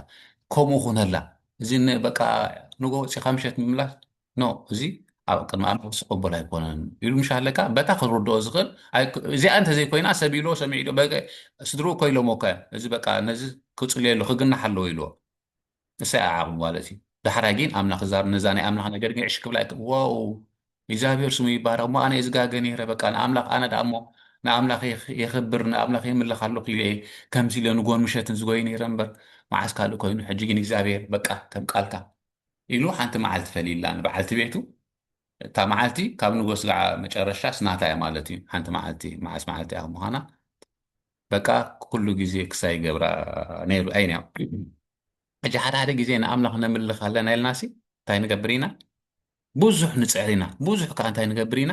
[SPEAKER 1] ከምኡ ኩነላ እዚ በቃ ንጎ ወፂኻ ምሸት ምምላስ ኖ እዚ ኣብ ቅድሚ ኣምላኽ ዝቕበል ኣይኮነን ኢሉ ምሻለካ በታ ክርድኦ ዝኽእል እዚኣ እንተዘይኮይና ሰብ ኢልዎ ሰሚዑ ኢልዎ ስድርኡ እኮ ኢሎሞ እኮ እዚ በቃ ነዚ ክጽልየሉ ክግናሕ ኣለዎ ኢልዎ እሰይ ኣዓቕሙ ማለት እዩ ዳሕራይ ግን ኣምላኽ ዛር ነዛ ናይ ኣምላኽ ነገር ግን ዕሽ ክብላ ዋው እግዚኣብሔር ስሙ ይባረኽ እሞ ኣነ ዝጋገ ነይረ በቃ ንኣምላኽ ኣነ ደኣ እሞ ንኣምላኽ የኽብር ንኣምላኽ የምልኽ ኣለኹ ኢለ ከምዚ ኢለ ንጎን ምሸትን ዝጎይ ነይረ እምበር መዓስ ካልእ ኮይኑ ሕጂ ግን እግዚኣብሔር በቃ ከም ቃልካ ኢሉ ሓንቲ መዓልቲ ፈልይላ ንበዓልቲ ቤቱ እታ መዓልቲ ካብ ንጎ ስጋዕ መጨረሻስ ናታ እያ ማለት እዩ ሓንቲ መዓልቲ መዓስ መዓልቲ እያ ምዃና በቃ ኩሉ ግዜ ክሳይ ይገብራ ነይሩ ኣይን እያ ሕጂ ሓደ ሓደ ግዜ ንኣምላኽ ነምልኽ ኣለና ኢልናሲ እንታይ ንገብር ኢና ብዙሕ ንፅዕር ኢና ብዙሕ ከዓ እንታይ ንገብር ኢና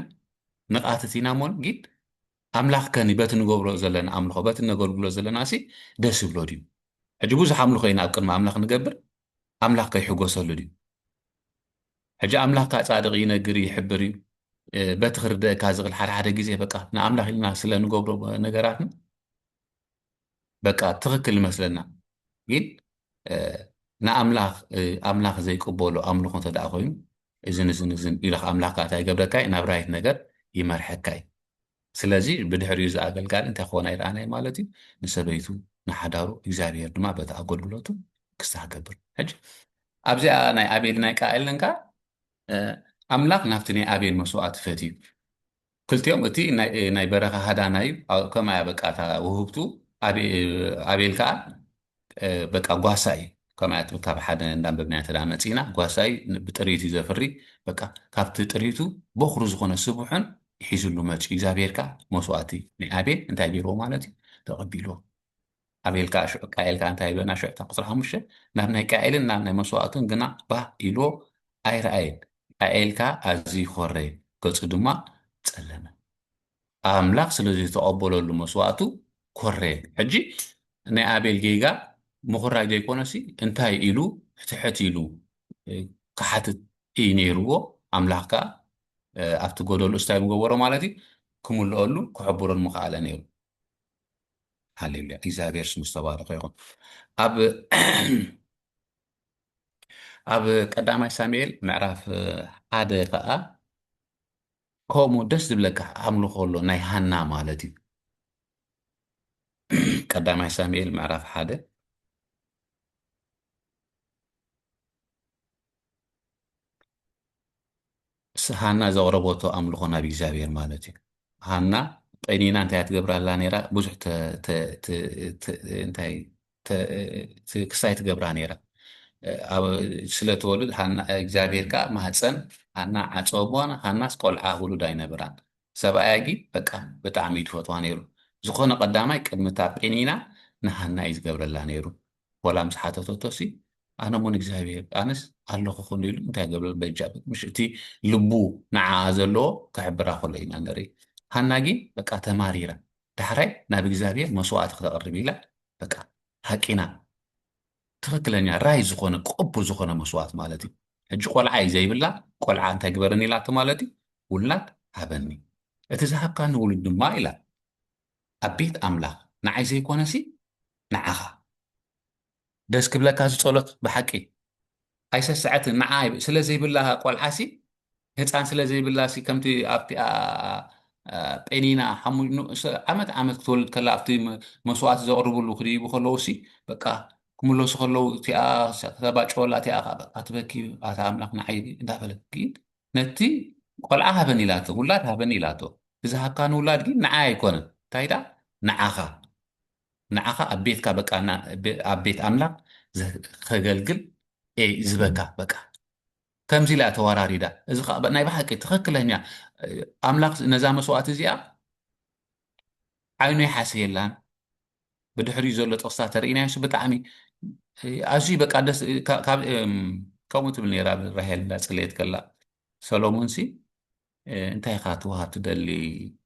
[SPEAKER 1] ንቃትት ኢና እሞን ግን ኣምላኽ ከኒ በቲ ንገብሮ ዘለና ኣምልኾ በቲ እነገልግሎ ዘለናሲ ደስ ይብሎ ድዩ? ሕጂ ብዙሕ ኣምልኾ ኢና ኣብ ቅድሚ ኣምላኽ ንገብር፣ ኣምላኽ ከ ይሕጎሰሉ ድዩ? ሕጂ ኣምላኽ ከ ጻድቕ ይነግር እዩ ይሕብር እዩ በቲ ክርደእካ ዝኽእል ሓደ ሓደ ግዜ በቃ ንኣምላኽ ኢልና ስለ ንገብሮ ነገራትና በቃ ትክክል ይመስለና ግን ንኣምላኽ ዘይቅበሎ ኣምልኾ እንተደኣ ኮይኑ እዝን እዝን እዝን ኢልኻ ኣምላኽ ከዓ እንታይ ይገብረካ እዩ ናብ ራይት ነገር ይመርሐካ እዩ ስለዚ ብድሕሪኡ እዚ ኣገልጋሊ እንታይ ክኾና ይረኣናይ ማለት እዩ ንሰበይቱ ንሓዳሩ እግዚኣብሄር ድማ በቲ ኣገልግሎቱ ክስታ ክገብር ሕጂ ኣብዚኣ ናይ ኣቤል ናይ ቃኤልን ከዓ ኣምላኽ ናብቲ ናይ ኣቤል መስዋእቲ ፈትዩ ክልቲኦም እቲ ናይ በረኻ ሃዳና እዩ ከምኣ እያ በቃ እታ ውህብቱ ኣቤል ከዓ በቃ ጓሳ እዩ ከምኣ እያ ትብል ካብ ሓደ እንዳንበብናያ ተዳ መፂና ጓሳ እዩ ብጥሪት እዩ ዘፍሪ በቃ ካብቲ ጥሪቱ በኩሪ ዝኾነ ስቡሕን ሒዙሉ መፂኡ እግዚኣብሄር ከዓ መስዋእቲ ናይ ኣቤል እንታይ ገይርዎ ማለት እዩ ተቐቢልዎ ኣቤልካ ሽዑ ቃኤል ከኣ እንታይ በና ሽዑ እታ ቁጽሪ ሓሙሽተ ናብ ናይ ቃኤልን ናብ ናይ መስዋእቱን ግና ባህ ኢልዎ ኣይረኣየን ቃኤል ከኣ ኣዝዩ ኾረየ ገጹ ድማ ጸለመ ኣምላኽ ስለ ዘይተቐበለሉ መስዋእቱ ኮረየ ሕጂ ናይ ኣቤል ጌጋ ምኹራይ ዘይኮነሲ እንታይ ኢሉ ሕትሕት ኢሉ ክሓትት እዩ ነይርዎ ኣምላኽ ከኣ ኣብቲ ጎደሉ እስታይ ምገበሮ ማለት እዩ ክምልኦሉ ክሕብሮን ምኸኣለ ነይሩ ሃሌሉያ እግዚኣብሔር ስሙ ዝተባረኸ ይኹን። ኣብ ኣብ ቀዳማይ ሳሙኤል ምዕራፍ ሓደ ከዓ ከምኡ ደስ ዝብለካ ኣምልኾ ኣሎ ናይ ሃና ማለት እዩ። ቀዳማይ ሳሙኤል ምዕራፍ ሓደ ምስ ሃና ዘቕረበቶ ኣምልኾ ናብ እግዚኣብሔር ማለት እዩ። ሃና ቀኒና እንታይ እያ ትገብር ኣላ ነይራ? ብዙሕ እንታይ ክሳይ ትገብራ ነይራ። ስለትወልድ እግዚኣብሔር ከዓ ማህፀን ሃና ዓፀቦ ሃናስ ቆልዓ ውሉድ ኣይነበራን ሰብኣያ ግን በቃ ብጣዕሚ እዩ ዝፈትዋ ነይሩ ዝኾነ ቀዳማይ ቅድሚ እታ ጴኒና ንሃና እዩ ዝገብረላ ነይሩ ዋላ ምስ ሓተተቶሲ ኣነ ሞን እግዚኣብሄር ኣነስ ኣለኹ ክሉ ኢሉ እንታይ ገብረ በጃ ምሽ እቲ ልቡ ንዓኣ ዘለዎ ክሕብራ ከሎ ኢና ንርኢ ሃና ግን በቃ ተማሪራ ዳሕራይ ናብ እግዚኣብሄር መስዋእቲ ክተቕርብ ኢላ በቃ ሃቂና ትክክለኛ ራይ ዝኾነ ቅቡል ዝኾነ መስዋእት ማለት እዩ ሕጂ ቆልዓ እዩ ዘይብላ ቆልዓ እንታይ ግበረኒ ኢላቶ ማለት እዩ ውላድ ሃበኒ እቲ ዝሃብካኒ ውሉድ ድማ ኢላ ኣብ ቤት ኣምላኽ ንዓይ ዘይኮነሲ ንዓኻ። ደስ ክብለካ እዚ ጸሎት ብሓቂ ኣይሰሰዐትን ንዓ ስለ ዘይብላ ቆልዓሲ ህፃን ስለ ዘይብላሲ ከምቲ ኣብቲ ጴኒና ዓመት ዓመት ክትወልድ ከላ ኣብቲ መስዋእቲ ዘቕርብሉ ክድይቡ ከለውሲ በቃ ክምለሱ ከለው እቲኣ ከተባጨወላ እቲኣ ከዓ በቃ ትበኪ ኣታ ኣምላኽ ንዓይ እንዳበለት ግን ነቲ ቆልዓ ሃበኒ ኢላቶ ውላድ ሃበኒ ኢላቶ ብዝሃብካ ንውላድ ግን ንዓይ ኣይኮነን እንታይ ድኣ ንዓኻ ንዓኻ ኣብ ቤትካ በቃ ኣብ ቤት ኣምላኽ ከገልግል እየ ዝበካ በቃ ከምዚ ኢላ ተወራሪዳ እዚ ከዓ ናይ ብሓቂ ትኽክለኛ ኣምላኽ ነዛ መስዋእቲ እዚኣ ዓይኑ ይሓስየላን ብድሕሪኡ ዘሎ ጥቕስታት ተርእናዮስ ብጣዕሚ ኣዝዩ በቃ ደስ ከምኡ ትብል ነራ ራሄል እንዳፅለየት ከላ ሰሎሞንሲ እንታይ ኢኻ ትውሃብ ትደሊ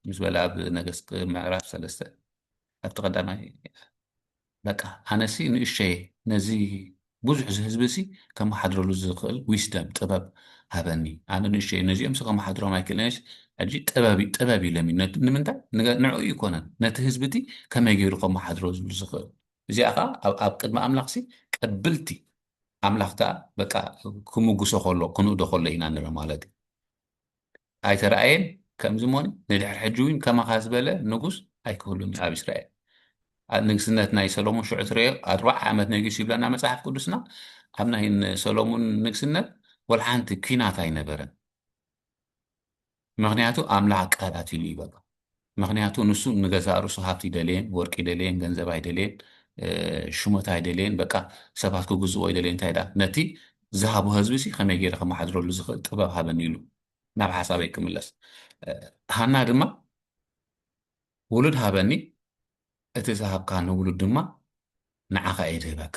[SPEAKER 1] ምስ በለ ኣብ ነገስት ምዕራፍ ሰለስተ ኣብቲ ቀዳማይ በቃ ኣነሲ ንእሸየ ነዚ ብዙሕ ህዝቢ ሲ ከመሓድረሉ ዝኽእል ዊስደም ጥበብ ሃበኒ ኣነ ንእሸየ ነዚኦም ሲ ከመሓድሮም ኣይክእልንስ ሕጂ ጥበብ ጥበብ ኢለም ንምንታይ ንዑ ይኮነን ነቲ ህዝቢ እቲ ከመይ ገይሩ ከመሓድሮ ዝብሉ ዝኽእል እዚኣ ከዓ ኣብ ቅድሚ ኣምላኽ ሲ ቀብልቲ ኣምላኽ ከኣ በቃ ክምጉሶ ከሎ ክንእዶ ከሎ ኢና ንርኢ ማለት እዩ ኣይተራእየን ከምዚ ሞኒ ንድሕር ሕጂ እውን ከማኻ ዝበለ ንጉስ ኣይክህሉን እዩ ኣብ እስራኤል ንግስነት ናይ ሰሎሞን ሽዑ ትረዮ ኣርባዓ ዓመት ነጊሱ ይብለና መጽሓፍ ቅዱስና ኣብ ናይ ሰሎሞን ንግስነት ወላ ሓንቲ ኲናት ኣይነበረን ምኽንያቱ ኣምላኽ ኣቀታቲሉ እዩ በቃ ምኽንያቱ ንሱ ንገዛእ ርእሱ ሃብቲ ይደልየን ወርቂ ይደልየን ገንዘብ ኣይደልየን ሽሞት ኣይደልየን በቃ ሰባት ክግዝዎ ይደልየን እንታይ ደኣ ነቲ ዝሃቦ ህዝቢ ሲ ከመይ ገይረ ከመሓድረሉ ዝኽእል ጥበብ ሃበኒ ኢሉ ናብ ሓሳበይ ክምለስ ሃና ድማ ውሉድ ሃበኒ እቲ ዝሃብካ ንውሉድ ድማ ንዓኻ እየ ድህበካ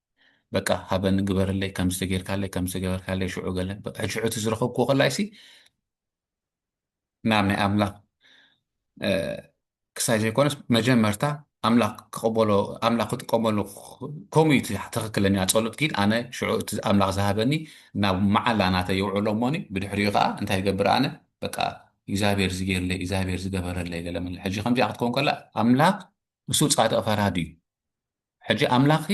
[SPEAKER 1] በቃ ሃበኒ ግበረለይ ከምዚ ተጌርካለይ ከምዚ ተገበርካለይ ሽዑ ገለ በቃ ሽዑ እቲ ዝረኸብክዎ ከላይሲ ናብ ናይ ኣምላኽ ክሳይ ዘይኮነስ መጀመርታ ኣምላኽ ክቕበሎ ኣምላኽ ክጥቀመሉ ከምኡ እዩ ትኽክለኛ ፀሎት ግን ኣነ ሽዑ እቲ ኣምላኽ ዝሃበኒ ናብ መዓላ ናተ የውዕሎ እሞኒ ብድሕሪኡ ከዓ እንታይ ይገብር ኣነ በቃ እግዚኣብሔር ዝገይርለይ እግዚኣብሔር ዝገበረለይ ገለ ምለ ሕጂ ከምዚኣ ክትከውን ከላ ኣምላኽ ንሱ ፃድቕ ፈራዲ እዩ ሕጂ ኣምላኽ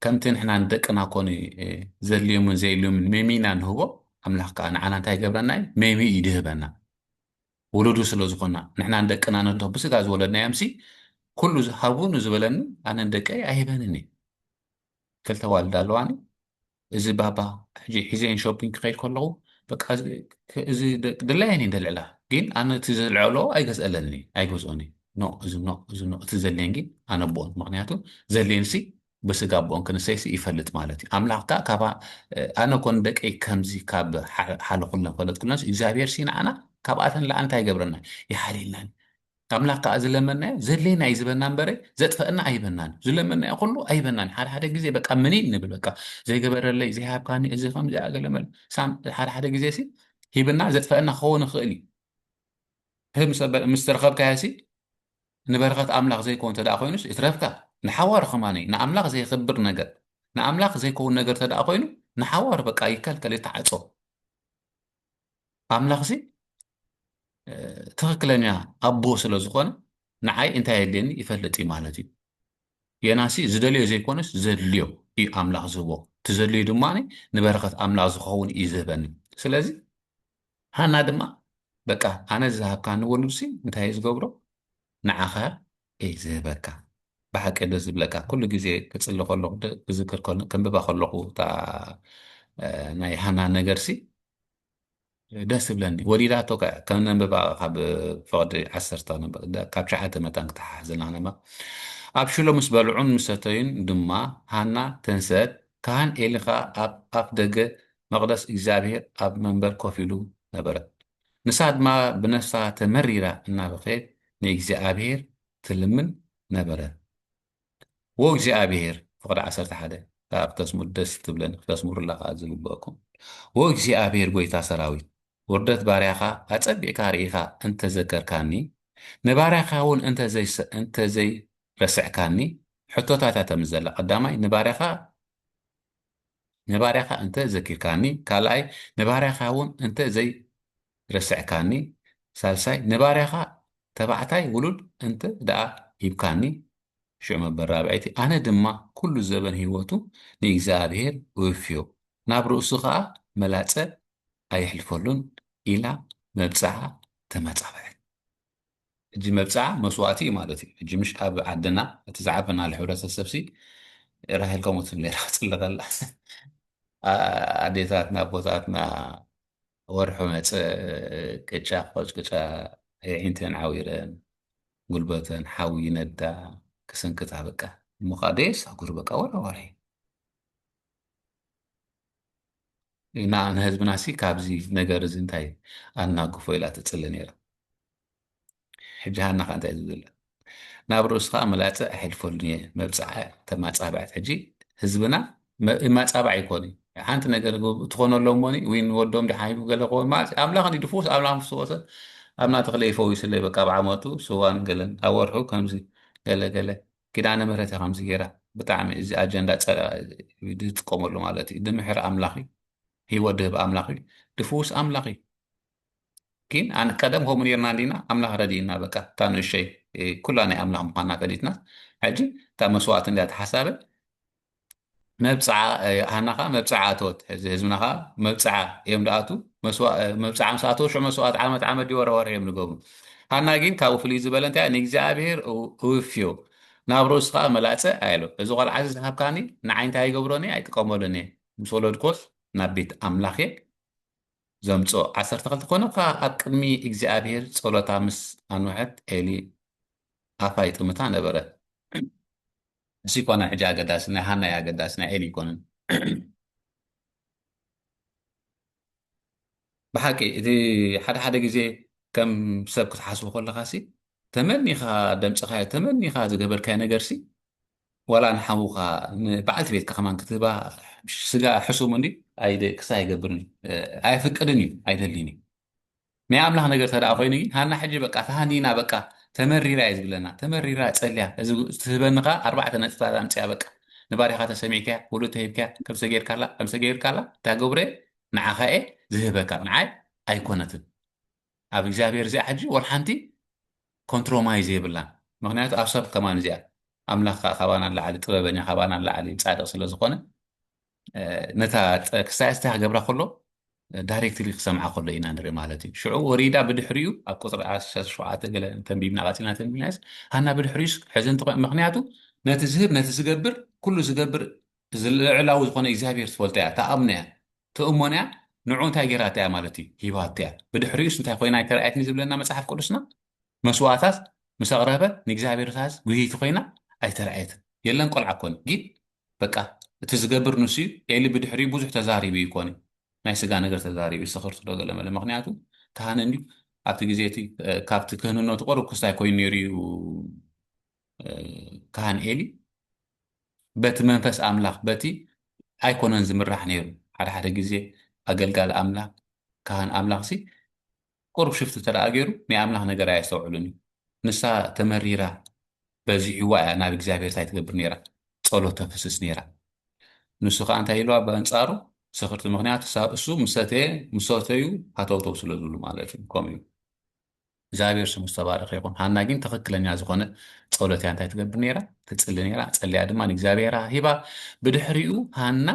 [SPEAKER 1] ከምቲ ንሕና ንደቅና ኮኑ ዘድልዮምን ዘየድልዮምን ሜሚና ንህቦ ኣምላኽ ከዓ ንዓና እንታይ ይገብረና እዩ ሜሚ እዩ ድህበና ውሉዱ ስለ ዝኾና ንሕና ንደቅና ነቶ ብስጋ ዝወለድናዮምሲ ኩሉ ሃቡ ንዝበለኒ ኣነ ንደቀይ ኣይህበንን እዩ ክልተ ዋልዳ ኣለዋኒ እዚ ባባ ሕጂ ሒዘየን ሾፒንግ ክኸይድ ከለኹ በቃ እዚ ድላየን እየን ደልዕላ ግን ኣነ እቲ ዘልዐሎ ኣይገዝአለንን እዩ ኣይገዝኦን እዩ ኖ እዚ ኖ እዚ ኖ እቲ ዘድልየን ግን ኣነብኦን ምክንያቱ ዘድልየንሲ ብስጋ ኣቦን ክንሰይሲ ይፈልጥ ማለት እዩ ኣምላኽ ከዓ ካብ ኣነ ኮን ደቀይ ከምዚ ካብ ሓለኹለን ፈለጥኩለንስ እግዚኣብሔር ሲ ንዓና ካብኣተን ለኣ እንታይ ይገብረና ይሓልየልና ኣምላኽ ከኣ ዝለመናዮ ዘድልየና እዩ ዝበና እምበረ ዘጥፈአና ኣይበናን እዩ ዝለመናዮ ኩሉ ኣይበናን ሓደ ሓደ ግዜ በቃ ምኒን ንብል በቃ ዘይገበረለይ ዘይሃብካኒ እዚ ከምዚ ኣገለመል ሳም ሓደ ሓደ ግዜ ሲ ሂብና ዘጥፈአና ክኸውን ይኽእል እዩ ምስ ተረኸብካዮሲ ንበረኸት ኣምላኽ ዘይከውን ተደኣ ኮይኑስ ይትረፍካ ንሓዋሩ ከማነ ንኣምላኽ ዘይኽብር ነገር ንኣምላኽ ዘይከውን ነገር ተደኣ ኮይኑ ንሓዋሩ በቃ ይከልከል ይተዓፆ ኣምላኽሲ ትኽክለኛ ኣቦ ስለ ዝኾነ ንዓይ እንታይ የድልየኒ ይፈልጥ እዩ ማለት እዩ ጌናሲ ዝደልዮ ዘይኮነስ ዘድልዮ እዩ ኣምላኽ ዝህቦ እቲ ዘድልዩ ድማ ንበረኸት ኣምላኽ ዝኸውን እዩ ዝህበኒ ስለዚ ሃና ድማ በቃ ኣነ ዝሃብካኒ ወሉድሲ እንታይ እዩ ዝገብሮ ንዓኸ እይ ዝህበካ ብሓቂ ደስ ዝብለካ ኩሉ ግዜ ክጽሊ ከለኹ ክዝክር ከንብባ ከለኹ እታ ናይ ሃና ነገርሲ ደስ ዝብለኒ ወሊዳቶ ከም ነንበባ ካብ ፍቅዲ ዓሰርተ ካብ ሸዓተ መታን ክተሓሓዘና ነባ ኣብ ሽሎ ምስ በልዑን ምሰተዩን ድማ ሃና ተንሰት ካህን ኤሊ ከዓ ኣብ ኣፍ ደገ መቅደስ እግዚኣብሄር ኣብ መንበር ኮፍ ኢሉ ነበረ ንሳ ድማ ብነፍሳ ተመሪራ እናበኸየት ንእግዚኣብሔር ትልምን ነበረት። ዎ እግዚኣብሔር ፍቕዲ ዓሰርተ ሓደ ከኣ ክተስምሩ ደስ ትብለኒ ክተስምሩላ ከኣ ዝግበእኩም ዎ እግዚኣብሔር ጐይታ ሰራዊት ውርደት ባርያኻ ኣጸቢቕካ ርኢኻ እንተ ዘከርካኒ ንባርያኻውን እንተ ዘይረስዕካኒ ሕቶታታ ተምዘላ ቀዳማይ ንባርያኻ ንባርያኻ እንተ ዘኪርካኒ፣ ካልኣይ፣ ንባርያኻውን እንተ ዘይረስዕካኒ፣ ሳልሳይ፣ ንባርያኻ ተባዕታይ ውሉድ እንተ ደኣ ሂብካኒ፣ ሽዑ መበል ራብዐይቲ፣ ኣነ ድማ ኵሉ ዘበን ህይወቱ ንእግዚኣብሄር እውፍዮ፣ ናብ ርእሱ ኸኣ መላጸ ኣየሕልፈሉን፣ ኢላ መብጽዓ ተማጻበዐት። ሕጂ መብጽዓ መስዋእቲ እዩ ማለት እዩ ሕጂ ምሽ ኣብ ዓድና እቲ ዝዓበናሉ ሕብረተሰብሲ ራሄል ከምኡ ትብል ነራ ክጽሊ ከላ ኣዴታትና ኣቦታትና ወርሑ መጸ ቅጫ ክቆጭቅጫ የዒንተን ዓዊረን ጉልበተን ሓዊ ይነዳ ክስንክታ በቃ እሞ ከዓ ደየሳጉር በቃ ወራዋሪ ኢና ንህዝብና ሲ ካብዚ ነገር እዚ እንታይ ኣናግፎ ኢላ ትፅሊ ነይራ ሕጂ ሃና ከዓ እንታይ ዝብል ናብ ርእሱ ከዓ መላፀ ኣይሕልፈሉን እየ መብፅዓ ተማፃብዐት ሕጂ ህዝብና ማፃብዕ ኣይኮኑ ሓንቲ ነገር ትኾነሎም ሞኒ ወይ ንወዶም ድሓሂቡ ገለ ክኾን ማለት ኣምላኽ እንዲ ድፍውስ ኣምላኽ ምስወሰ ኣብና ተኽለ ይፈውስለይ በቃ ብዓመቱ ስዋን ገለን ኣብ ወርሑ ከምዚ ገለ ገለ ኪዳነ ምህረት እያ ከምዚ ገይራ ብጣዕሚ እዚ ኣጀንዳ ዝጥቀመሉ ማለት እዩ ድምሕር ኣምላኽ እዩ ህይወት ድህብ ኣምላኽ እዩ ድፍውስ ኣምላኽ እዩ ግን ኣነ ቀደም ከምኡ ነርና እንዲና ኣምላኽ ረድእና በቃ እታ ንእሸይ ኩላ ናይ ኣምላኽ ምኳና ፈሊጥና ሕጂ እታ መስዋእቲ እንዲያ ተሓሳበ መብጽዓ ሃና ከኣ መብጽዓ ኣተወት። ሕዚ ህዝብና ከኣ መብጽዓ እዮም ደኣቱ መብጽዓ ምስ ኣተው ሽዑ መስዋእት ዓመት ዓመት ድዩ ወርሒ ወርሒ እዮም ዝገብሩ። ሃና ግን ካብኡ ፍልይ ዝበለ እንታይ ንእግዚኣብሔር እውፍዮ ናብ ርእሱ ከኣ መላጸ ኣየሎ እዚ ቆልዓዚ ዝሃብካኒ ንዓይ እንታይ ይገብሮን እየ ኣይጥቀመሉን እየ ምስ ወለድኮስ ናብ ቤት ኣምላኽ እየ ዘምጽኦ ዓሰርተ ክልተ ኮነ ከኣ ኣብ ቅድሚ እግዚኣብሔር ጸሎታ ምስ ኣንውሐት ኤሊ ኣፋ ይጥምታ ነበረ። ንሱ ኣይኮነን ሕጂ ኣገዳሲ ናይ ሃና እዩ ኣገዳሲ ናይ ኤሊ ኣይኮነን። ብሓቂ እቲ ሓደ ሓደ ግዜ ከም ሰብ ክትሓስቡ ከለኻሲ ተመኒኻ ደምጽኻዮ ተመኒኻ ዝገበርካዮ ነገርሲ ዋላ ንሓውኻ ንበዓልቲ ቤትካ ከማን ክትህባ ስጋ ሕሱም እንዲ ክሳ ኣይገብርን ኣየፍቅድን እዩ ኣይደልን እዩ ናይ ኣምላኽ ነገር ተደኣ ኮይኑ ግን ሃና ሕጂ በቃ ተሃኒና በቃ ተመሪራ እየ ዝብለና ተመሪራ ጸልያ እዚ ትህበኒ ከኣ ኣርባዕተ ነጥብታት ኣምጽኣ በቃ ንባርያኻ ተሰሚዕካያ ወለዶ ተሂብካያ ከምሰ ጌርካላ ከምሰ ጌርካላ እታ ገብረ ንዓኻ እየ ዝህበካ ንዓይ ኣይኮነትን ኣብ እግዚኣብሔር እዚኣ ሕጂ ወላ ሓንቲ ኮንትሮማይዝ የብላን ምክንያቱ ኣብ ሰብ ከማን እዚኣ ኣምላኽ ከኣ ካባና ንላዕሊ ጥበበኛ ካባና ንላዕሊ ጻድቕ ስለ ዝኾነ ነታ ክሳያስ እንታይ ክገብራ ከሎ ዳይሬክትሊ ክሰምዓ ከሎ ኢና ንርኢ ማለት እዩ ሽዑ ወሪዳ ብድሕሪኡ ኣብ ቁፅሪ ዓሰርተ ሸውዓተ ገለ ተንቢብና ቀፂልና ተንቢብናስ ሃና ብድሕሪኡስ ሕዚ እንትኾ ምክንያቱ ነቲ ዝህብ ነቲ ዝገብር ኩሉ ዝገብር ልዕላዊ ዝኾነ እግዚኣብሄር ትፈልጦ እያ ተኣምኖ እያ ትእሞን እያ ንዑ እንታይ ገይራታ እያ ማለት እዩ ሂባቶ እያ ብድሕሪኡስ እንታይ ኮይና ኣይተረኣየትኒ ዝብለና መፅሓፍ ቅዱስና መስዋእታት ምስ ኣቕረበ ንእግዚኣብሔር ታዝ ጉህይቲ ኮይና ኣይተርኣየትን የለን ቆልዓ ኮን ጊን በቃ እቲ ዝገብር ንሱ እዩ ኤሊ ብድሕሪኡ ብዙሕ ተዛሪቡ እዩ ኮን ናይ ስጋ ነገር ተዛሪቡ ስኽርት ዶ ገለመለ ምክንያቱ ካህን እንዲዩ ኣብቲ ግዜ እቲ ካብቲ ክህንነቱ ቅርብ ክስታይ ኮይኑ ነይሩ እዩ ካህን ኤሊ በቲ መንፈስ ኣምላኽ በቲ ኣይኮነን ዝምራሕ ነይሩ ሓደ ሓደ ግዜ ኣገልጋሊ ኣምላኽ ካህን ኣምላኽ ሲ ቁሩብ ሽፍት እንተደኣ ገይሩ ናይ ኣምላኽ ነገር ኣየስተውዕልን እዩ። ንሳ ተመሪራ በዚሕዋ እያ ናብ እግዚኣብሄር እንታይ ትገብር ነይራ? ጸሎት ተፍስስ ነይራ። ንሱ ከኣ እንታይ ኢልዋ በኣንጻሩ ሰኽርቲ ምኽንያቱ ሳብ እሱ ምስ ሰተየ ምስ ሰተዩ ሃተውተው ስለ ዝብሉ ማለት እዩ ከምኡ እዩ። እግዚኣብሄር ስሙ ዝተባረኸ ይኹን። ሃና ግን ትኽክለኛ ዝኾነ ጸሎት እያ እንታይ ትገብር ነይራ? ትጽሊ ነይራ። ጸልያ ድማ ንእግዚኣብሄራ ሂባ። ብድሕሪኡ ሃና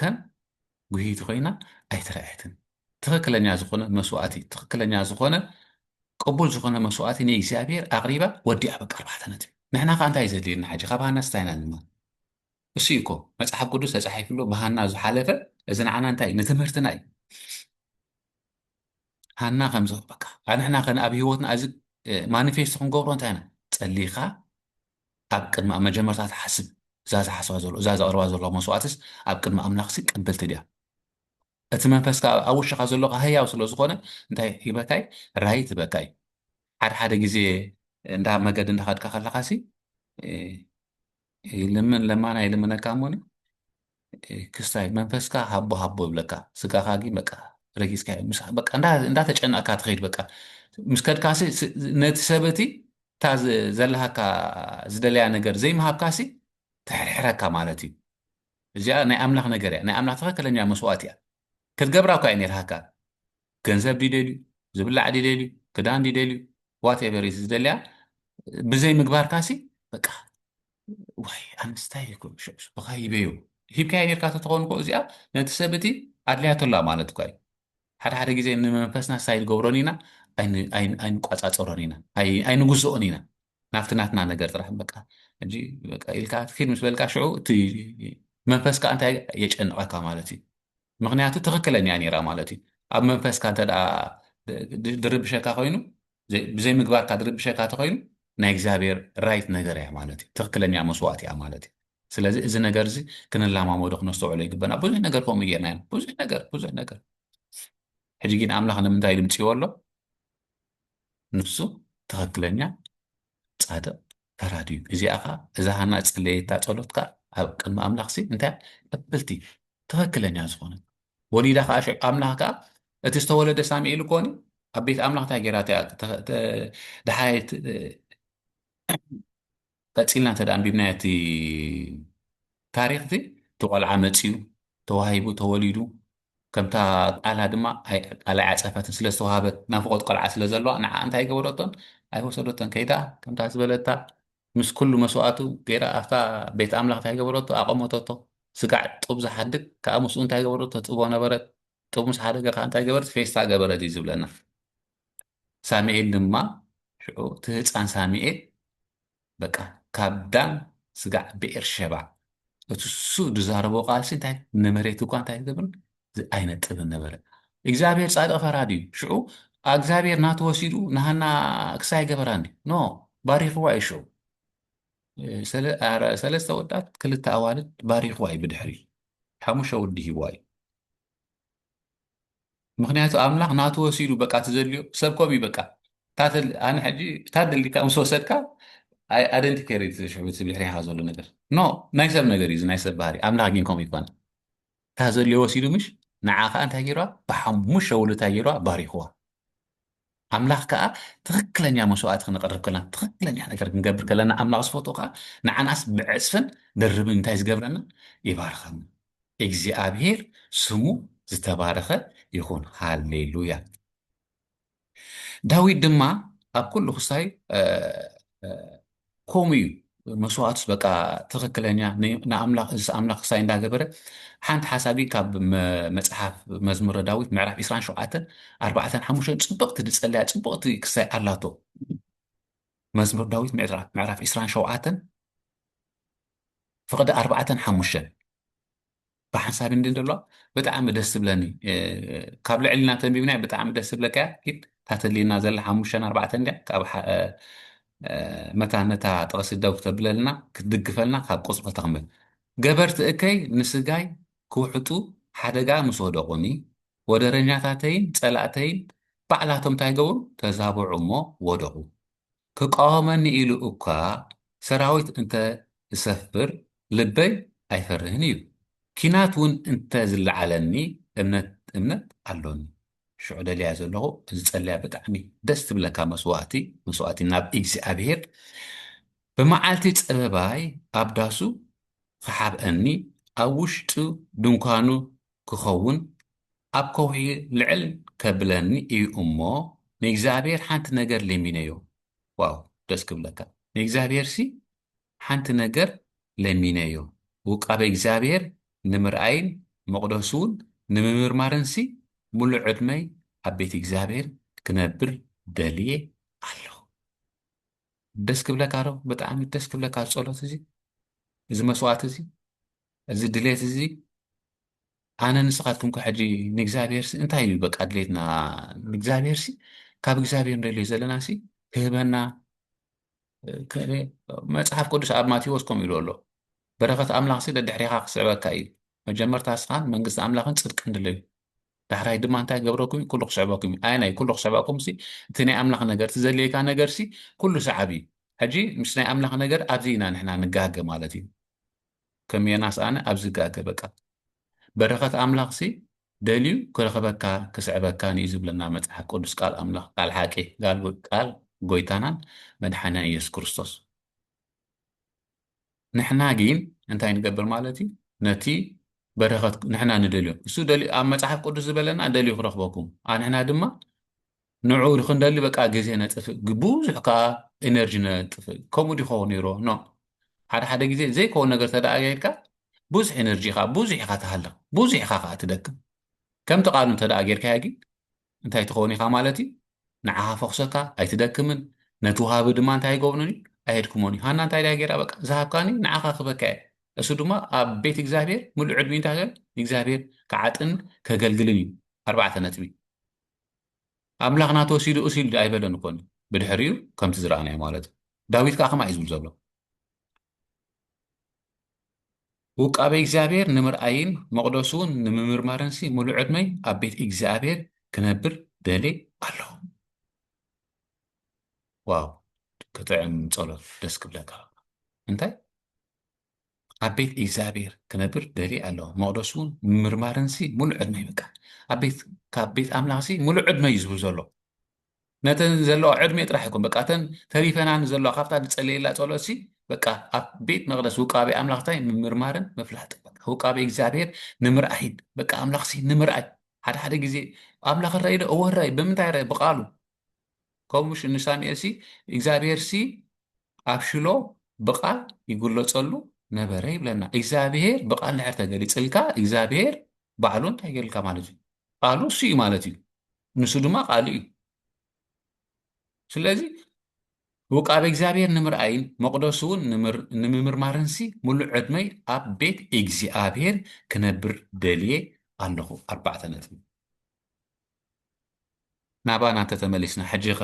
[SPEAKER 1] ከም ጉህይቲ ኮይና ኣይተረኣየትን። ትኽክለኛ ዝኾነ መስዋእቲ ትኽክለኛ ዝኾነ ቅቡል ዝኾነ መስዋእቲ ንእግዚኣብሔር ኣቕሪባ ወዲኣ በቃ ኣርባዕተ ነጥቢ ንሕና ከዓ እንታይ ዘድልየና ሓጂ ካብ ሃና ስታይ ኢና ንማር እሱ እዩ እኮ መፅሓፍ ቅዱስ ተፃሒፍሎ ብሃና ዝሓለፈ እዚ ንዓና እንታይ ንትምህርትና እዩ ሃና ከምዚ በቃ ኣንሕና ከነ ኣብ ሂወትና እዚ ማኒፌስቶ ክንገብሮ እንታይ ኢና ፀሊኻ ኣብ ቅድሚ ኣብ መጀመርታ ትሓስብ እዛ ዝሓስባ ዘሎ እዛ ዘቕርባ ዘለዋ መስዋእትስ ኣብ ቅድሚ ኣምላኽሲ ቀበልቲ ድያ እቲ መንፈስ ከኣ ኣብ ውሽኻ ዘሎ ከኣ ህያው ስለ ዝኾነ እንታይ ይህበካይ ራይ ትበካይ ሓደ ሓደ ግዜ እንዳ መገዲ እንዳኸድካ ከለኻሲ ይልምን ለማና ይልምነካ እሞኒ ክስታይ መንፈስካ ሃቦ ሃቦ ብለካ ስጋካ ግን በቃ ረጊዝካ በቃ እንዳተጨነቕካ ትኸይድ በቃ ምስ ከድካሲ ነቲ ሰበቲ እታ ዘለሃካ ዝደለያ ነገር ዘይምሃብካሲ ተሕርሕረካ ማለት እዩ እዚኣ ናይ ኣምላኽ ነገር እያ ናይ ኣምላኽ ትኸክለኛ መስዋእት እያ ክትገብራ እኳ እዩ ነርሃካ ገንዘብ ድዩ ደልዩ ዝብላዕ ድዩ ደልዩ ክዳን ድዩ ደልዩ ዋትኤቨር እዩ ዝደልያ ብዘይ ምግባርካሲ በቃ ዋይ ኣንስታይ እኮ ሸብሱ ብካ ይበዩ ሂብካዮ ኔርካ ተትኸውን እኮ እዚኣ ነቲ ሰብ እቲ ኣድልያቶ ኣላ ማለት እኳ እዩ ሓደ ሓደ ግዜ ንመንፈስና ሳይ ንገብሮን ኢና ኣይንቋፃፀሮን ኢና ኣይንግዝኦን ኢና ናብቲ ናትና ነገር ጥራሕ በቃ ሕጂ በቃ ኢልካ ኪድ ምስ በልካ ሽዑ እቲ መንፈስካ እንታይ የጨንቐካ ማለት እዩ ምክንያቱ ትኽክለኛ ነይራ ማለት እዩ ኣብ መንፈስካ እንተ ድርብሸካ ኮይኑ ብዘይ ምግባርካ ድርብሸካ ተኮይኑ ናይ እግዚኣብሔር ራይት ነገር እያ ማለት እዩ ትኽክለኛ መስዋእት እያ ማለት እዩ ስለዚ እዚ ነገር እዚ ክንላማመዶ ክነስተውዕሎ ይግበና ብዙሕ ነገር ከምኡ ጌርና ኢና ብዙሕ ነገር ብዙሕ ነገር ሕጂ ግን ኣምላኽ ንምንታይ ድምፅዎ ኣሎ ንሱ ትኽክለኛ ጻድቕ ፈራዲ እዩ። እዚኣ ኸዓ እዛ ሃና ጸለየታ ጸሎት ከዓ ኣብ ቅድሚ ኣምላኽ ሲ እንታይ ቀበልቲ ትኽክለኛ ዝኾነት ወሊዳ ከዓ ሽዑ ኣምላኽ ከዓ እቲ ዝተወለደ ሳሙኤል ኮኒ ኣብ ቤት ኣምላኽ እንታይ ገይራታ እያ ደሓየት ቀጺልና እንተ ኣንቢብናዮ እቲ ታሪኽ እቲ እቲ ቆልዓ መጺኡ ተዋሂቡ ተወሊዱ ከምታ ቃላ ድማ ቃላ ኣይዓጸፈትን ስለ ዝተዋሃበት ናፍቆት ቆልዓ ስለ ዘለዋ ንዓ እንታይ ገበረቶን ኣይወሰደቶን ከይዳ ከምታ ዝበለታ ምስ ኩሉ መስዋእቱ ገይራ ኣብታ ቤት ኣምላኽ እንታይ ገበረቶ ኣቐመተቶ ስጋዕ ጡብ ዝሓድግ ከዓ ምስኡ እንታይ ገበረቶ ትጥቦ ነበረት ጡብ ምስ ሓደገ ከዓ እንታይ ገበረት ፌስታ ገበረት እዩ ዝብለና ሳሚኤል ድማ ሽዑ እቲ ህፃን ሳሚኤል በቃ ካብ ዳን ስጋዕ ብኤርሸባ እቲ እሱ ዝዛረቦ ቃልሲ እንታይ ንመሬት እኳ እንታይ ዝገብርን ኣይነጥብን ነበረ እግዚኣብሔር ጻድቅ ፈራድ እዩ ሽዑ እግዚኣብሔር ናቱ ወሲዱ ንሃና ክሳይ ገበራን እዩ ኖ ባሪኽዋ እዩ ሽዑ ሰለስተ ወዳት ክልተ ኣዋልድ ባሪኽዋ እዩ ብድሕሪ ሓሙሽተ ወዲ ሂዋ እዩ ምክንያቱ ኣምላክ ናቱ ወሲዱ በቃ እቲ ዘድልዮ ሰብ ከምኡ እዩ በቃ እታ ኣነ ሕጂ እታ ደሊካ ምስ ወሰድካ ኣደንቲ ኬር እዩ ሽዑ እቲ ብድሕሪካ ዘሎ ነገር ኖ ናይ ሰብ ነገር እዩ እዚ ናይ ሰብ ባህሪ ኣምላክ ግን ከምኡ ይኮነ እታ ዘድልዮ ወሲዱ ምሽ ንዓ ከዓ እንታይ ገይርዋ ብሓሙሽተ ውሉ እንታይ ገይርዋ ባሪክዋ ኣምላኽ ከኣ ትኽክለኛ መስዋእቲ ክንቐርብ ከለና ትኽክለኛ ነገር ክንገብር ከለና ኣምላኽ ዝፈትዎ ከኣ ንዓናስ ብዕጽፍን ድርብን እንታይ ዝገብረና ይባርኸና። እግዚኣብሄር ስሙ ዝተባረኸ ይኹን። ሃሌሉያ። ዳዊት ድማ ኣብ ኩሉ ክሳይ ከምኡ እዩ መስዋእቱስ በቃ ትኽክለኛ ንኣምላኽ እዚ ኣምላኽ ክሳይ እንዳገበረ ሓንቲ ሓሳቢ ካብ መፅሓፍ መዝሙረ ዳዊት ምዕራፍ 27 ኣርባዕተን ሓሙሽተን ፅብቕቲ ዝፀለያ ፅብቕቲ ክሳይ ኣላቶ መዝሙር ዳዊት ምዕራፍ 27 ፍቕዲ ኣርባዕተን ሓሙሽተን ብሓንሳብ እንዲ እንተለዋ ብጣዕሚ ደስ ትብለኒ ካብ ልዕልና ተንቢብናያ ብጣዕሚ ደስ ትብለካያ ግን ታተልየና ዘላ ሓሙሽተን ኣርባዕተን ድያ ካብ መታን ነታ ጥቕሲ ደው ክተብለልና ክትድግፈልና ካብ ቁፅሪ ተቕምል ገበርቲ እከይ ንስጋይ ክውሕጡ ሓደጋ ምስ ወደቑኒ ወደረኛታተይን ፀላእተይን ባዕላቶም እንታይ ገበሩ ተዛበዑ እሞ ወደቑ ክቃወመኒ ኢሉ እኳ ሰራዊት እንተ ዝሰፍር ልበይ ኣይፈርህን እዩ። ኪናት ውን እንተ ዝለዓለኒ እምነት እምነት ኣሎኒ። ሽዑ ደልያ ዘለኹ ዝጸልያ ብጣዕሚ ደስ ትብለካ መስዋእቲ መስዋእቲ ናብ እግዚኣብሄር ብመዓልቲ ጸበባይ ኣብ ዳሱ ክሓብኣኒ ኣብ ውሽጡ ድንኳኑ ክኸውን ኣብ ከውሒ ልዕል ከብለኒ እዩ እሞ ንእግዚኣብሔር ሓንቲ ነገር ለሚነዮ ዋው ደስ ክብለካ ንእግዚኣብሔርሲ ሓንቲ ነገር ለሚነዮ ውቃበ እግዚኣብሔር ንምርኣይን መቕደሱውን ንምምርማርንሲ ምሉእ ዕድመይ ኣብ ቤት እግዚኣብሔር ክነብር ደልየ ኣለኹ ደስ ክብለካ ዶ ብጣዕሚ ደስ ክብለካ ጸሎት እዚ እዚ መስዋዕት እዚ እዚ ድሌት እዚ ኣነ ንስኻትኩም ከ ሕጂ ንእግዚኣብሔርሲ እንታይ እዩ በቃ ድሌትና ንእግዚኣብሔርሲ ካብ እግዚኣብሔር ንደልዮ ዘለና ሲ ክህበና መጽሓፍ ቅዱስ ኣብ ማቴዎስ ከምኡ ኢሉ ኣሎ በረኸት ኣምላኽ ሲ ደድሕሪኻ ክስዕበካ እዩ መጀመርታ ስኻን መንግስቲ ኣምላኽን ጽድቅን ድለዩ ዳሕራይ ድማ እንታይ ገብረኩም ኩሉ ክስዕበኩም እዩ ኣየናይ ኩሉ ክስዕበኩም ሲ እቲ ናይ ኣምላኽ ነገር እቲ ዘድልየካ ነገር ሲ ኩሉ ሰዓብ እዩ ሕጂ ምስ ናይ ኣምላኽ ነገር ኣብዚ ኢና ንሕና ንጋገ ማለት እዩ ከም ዮናስ ኣነ ኣብዚ ጋገ በቃ በረኸት ኣምላኽሲ ደልዩ ክረኽበካ ክስዕበካን እዩ ዝብለና መጽሓፍ ቅዱስ ቃል ኣምላኽ ቃል ሓቂ ጋል ቃል ጎይታናን መድሓንያን ኢየሱስ ክርስቶስ ንሕና ግን እንታይ ንገብር ማለት እዩ ነቲ በረኸት ንሕና ንደልዮ እሱ ኣብ መጽሓፍ ቅዱስ ዝበለና ደልዩ ክረኽበኩም ንሕና ድማ ንዑ ክንደሊ በቃ ግዜ ነጥፍእ ግቡዙሕ ከኣ ኢነርጂ ነጥፍእ ከምኡ ዲ ክኸውን ኔሮ ኖእ ሓደ ሓደ ግዜ ዘይከውን ነገር ተደኣ ጌርካ ብዙሕ ኢነርጂ ኢኻ ብዙሕ ኢኻ ትሃልኽ ብዙሕ ኢኻ ከኣ ትደክም ከምቲ ቃሉ እንተደኣ ጌርካያ ጊን እንታይ ትኸውን ኢኻ ማለት እዩ ንዓኻ ፈኹሰካ ኣይትደክምን ነቲ ወሃቢ ድማ እንታይ ኣይገብሩን እዩ ኣይህድክሞን እዩ ሃና እንታይ ደኣ ጌራ በቃ ዝሃብካኒ ንዓኻ ክበካ እየ እሱ ድማ ኣብ ቤት እግዚኣብሔር ምሉእ ዕድሚኡ እንታይ ንእግዚኣብሔር ክዓጥን ከገልግልን እዩ ኣርባዕተ ነጥቢ ኣምላኽ ናቱ ወሲዱ እስ ኢሉ ኣይበለን እኮ ብድሕሪኡ ከምቲ ዝረኣናዮ ማለት እዩ ዳዊት ከዓ ከምኣ እዩ ዝብል ዘሎ ውቃቤ እግዚኣብሔር ንምርኣይን መቕደሱን ንምምርማርን ሲ ሙሉ ዕድመይ ኣብ ቤት እግዚኣብሔር ክነብር ደሌ ኣለኹ ዋው ክጥዕም ጸሎት ደስ ክብለካ እንታይ ኣብ ቤት እግዚኣብሔር ክነብር ደልየ ኣለኹ መቕደሱ እውን ምምርማርንሲ ሙሉእ ዕድመ እዩ በቃ ኣብ ቤት ካብ ቤት ኣምላኽሲ ሙሉእ ዕድመ እዩ ዝብል ዘሎ ነተን ዘለዋ ዕድሜ ጥራሕ ይኮን በቃ እተን ተሪፈናን ዘለዋ ካብታ ዝፀለየላ ፀሎትሲ በቃ ኣብ ቤት መቕደስ ውቃቤ ኣምላኽታይ ምምርማርን ምፍላጥ በቃ ውቃቤ እግዚኣብሔር ንምርኣይን በቃ ኣምላኽሲ ንምርኣይ ሓደ ሓደ ግዜ ኣምላኽ ራእይ ዶ እወ ራእይ ብምንታይ ራእይ ብቃሉ ከምኡ ንሳሙኤልሲ እግዚኣብሄርሲ ኣብ ሽሎ ብቓል ይግለጸሉ ነበረ ይብለና። እግዚኣብሄር ብቓል ድሕር ተገሊጽልካ እግዚኣብሄር ባዕሉ እንታይ ገርልካ ማለት እዩ? ቃሉ እሱ እዩ ማለት እዩ። ንሱ ድማ ቃሉ እዩ። ስለዚ ውቃበ እግዚኣብሄር ንምርኣይን መቕደሱ እውን ንምምርማርንሲ ምሉእ ዕድመይ ኣብ ቤት እግዚኣብሄር ክነብር ደልየ ኣለኹ። ኣርባዕተ ነጥቢ ናባና እንተ ተመሊስና ሕጂኸ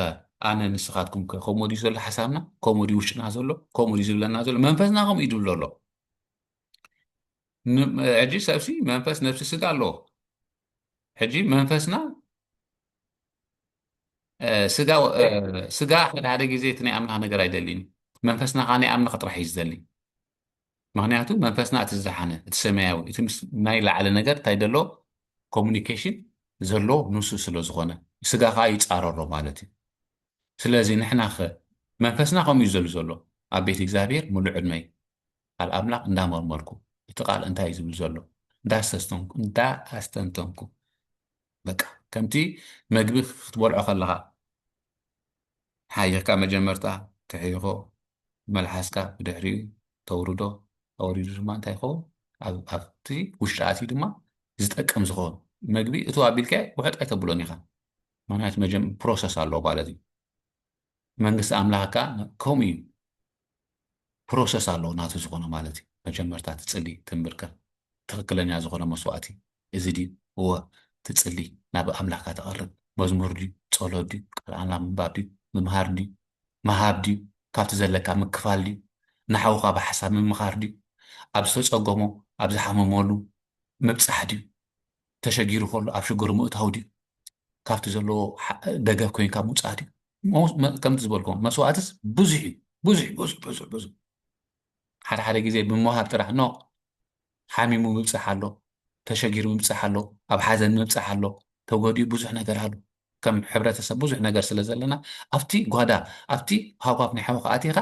[SPEAKER 1] ኣነ ንስኻትኩምከ ከምኡ ድዩ ዘሎ ሓሳብና ከምኡ ድዩ ውሽጥና ዘሎ ከምኡ ድዩ ዝብለና ዘሎ መንፈስና ከምኡ እዩ ድብሎ ኣሎ ሕጂ ሰብሲ መንፈስ ነብሲ ስጋ ኣለዎ ሕጂ መንፈስና ስጋ ስጋ ሓደ ሓደ ግዜ እቲ ናይ ኣምላኽ ነገር ኣይደልይን መንፈስና ከዓ ናይ ኣምላኽ ጥራሕ እዩ ዝደሊ ምክንያቱ መንፈስና እቲ ዝደሓነ እቲ ሰማያዊ እቲ ምስ ናይ ላዕሊ ነገር እንታይ ደሎ ኮሙኒኬሽን ዘሎ ንሱ ስለ ዝኾነ ስጋ ከዓ ይፃረሮ ማለት እዩ ስለዚ ንሕና ኸ መንፈስና ከምኡ እዩ ዘሉ ዘሎ ኣብ ቤት እግዚኣብሔር ሙሉ ዕድመይ ቃል ኣምላኽ እንዳመርመርኩ እቲ ቃል እንታይ እዩ ዝብል ዘሎ እንዳኣስተንተንኩ በቃ ከምቲ መግቢ ክትበልዖ ከለኻ ሓይኽካ መጀመርታ ትሕይኾ ብመልሓስካ ብድሕሪኡ ተውርዶ ኣወሪዱ ድማ እንታይ ይኸውን ኣብ ኣብቲ ውሽጢ ኣትዩ ድማ ዝጠቅም ዝኸውን መግቢ እቱ ኣቢልካዮ ውሕጥ ኣይተብሎን ኢኻ ምክንያቱ መጀም ፕሮሰስ ኣለዎ ማለት እዩ መንግስቲ ኣምላኽ ከዓ ከምኡ እዩ ፕሮሰስ ኣለዎ ናቱ ዝኾነ ማለት እዩ መጀመርታ ትጽሊ ትምብርከኽ ትኽክለኛ ዝኾነ መስዋእቲ እዚ ድዩ እወ ትጽሊ ናብ ኣምላካ ተቐርብ መዝሙር ድዩ ጸሎት ድዩ ቃል ኣምላኽ ምንባብ ድዩ ምምሃር ድዩ ምሃብ ድዩ ካብቲ ዘለካ ምክፋል ድዩ ንሓውካ ብሓሳብ ምምኻር ድዩ ኣብ ዝተጸገሞ ኣብ ዝሓመመሉ ምብጻሕ ድዩ ተሸጊሩ ከሎ ኣብ ሽግሩ ምእታው ድዩ ካብቲ ዘለዎ ደገፍ ኮንካ ምውጻእ ድዩ ከምቲ ዝበልኩም መስዋእትስ ብዙሕ እዩ ብዙሕ ብዙሕ ብዙሕ ብዙሕ ሓደ ሓደ ግዜ ብምሃብ ጥራሕ ኖ ሓሚሙ ምብፃሕ ኣሎ ተሸጊሩ ምብፃሕ ኣሎ ኣብ ሓዘን ምብፃሕ ኣሎ ተጎዲኡ ብዙሕ ነገር ኣሎ ከም ሕብረተሰብ ብዙሕ ነገር ስለ ዘለና ኣብቲ ጓዳ ኣብቲ ሃውሃፍ ናይ ሓወኻ ኣቲኻ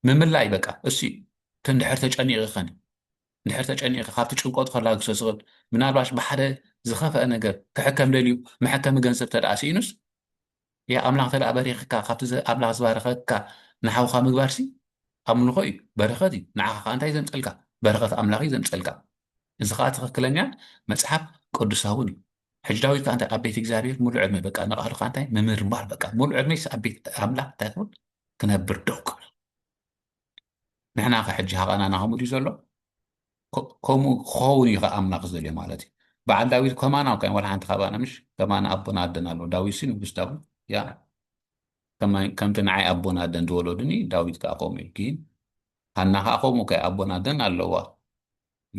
[SPEAKER 1] ምምላይ በቃ እሱ እዩ እንድሕር ተጨኒቑ ኸኒ እንድሕር ተጨኒቑ ካብቲ ጭንቆት ከላግሶ ዝኽእል ምናልባሽ ብሓደ ዝኸፍአ ነገር ክሕከም ደልዩ መሐከሚ ገንዘብ ተደኣ ስኢኑስ እያ ኣምላኽ እንተደኣ በሪኽካ ካብቲ ኣምላኽ ዝባረኸካ ንሓውካ ምግባርሲ ኣምልኾ እዩ በረኸት እዩ ንዓኻ ከዓ እንታይ ዘምፀልካ በረኸት ኣምላኽ እዩ ዘምፀልካ እዚ ከዓ ትኽክለኛን መፅሓፍ ቅዱሳውን እዩ ሕጂ ዳዊት ከዓ እንታይ ኣብ ቤት እግዚኣብሔር ሙሉ ዕድመ በቃ ንቃሉ ከዓ እንታይ ምምርማር በቃ ሙሉ ዕድመይስ ኣብ ቤት ኣምላኽ እንታይ ክብል ክነብር ደው ክብል ንሕና ከ ሕጂ ሃቐናና ከምኡ ድዩ ዘሎ ከምኡ ክኸውን እዩ ከ ኣምላኽ ዝደልዮ ማለት እዩ በዓል ዳዊት ከማና እኳ ዋላ ሓንቲ ካባና ምሽ ከማና ኣቦና ኣደን ኣሎ ዳዊት ሲ ንጉስ ዳዊት ያ ከምቲ ንዓይ ኣቦን ኣደን ዝወለዱኒ ዳዊት ከዓ ከምኡ እዩ ግን ሃና ከዓ ከምኡ ከ ኣቦን ኣደን ኣለዋ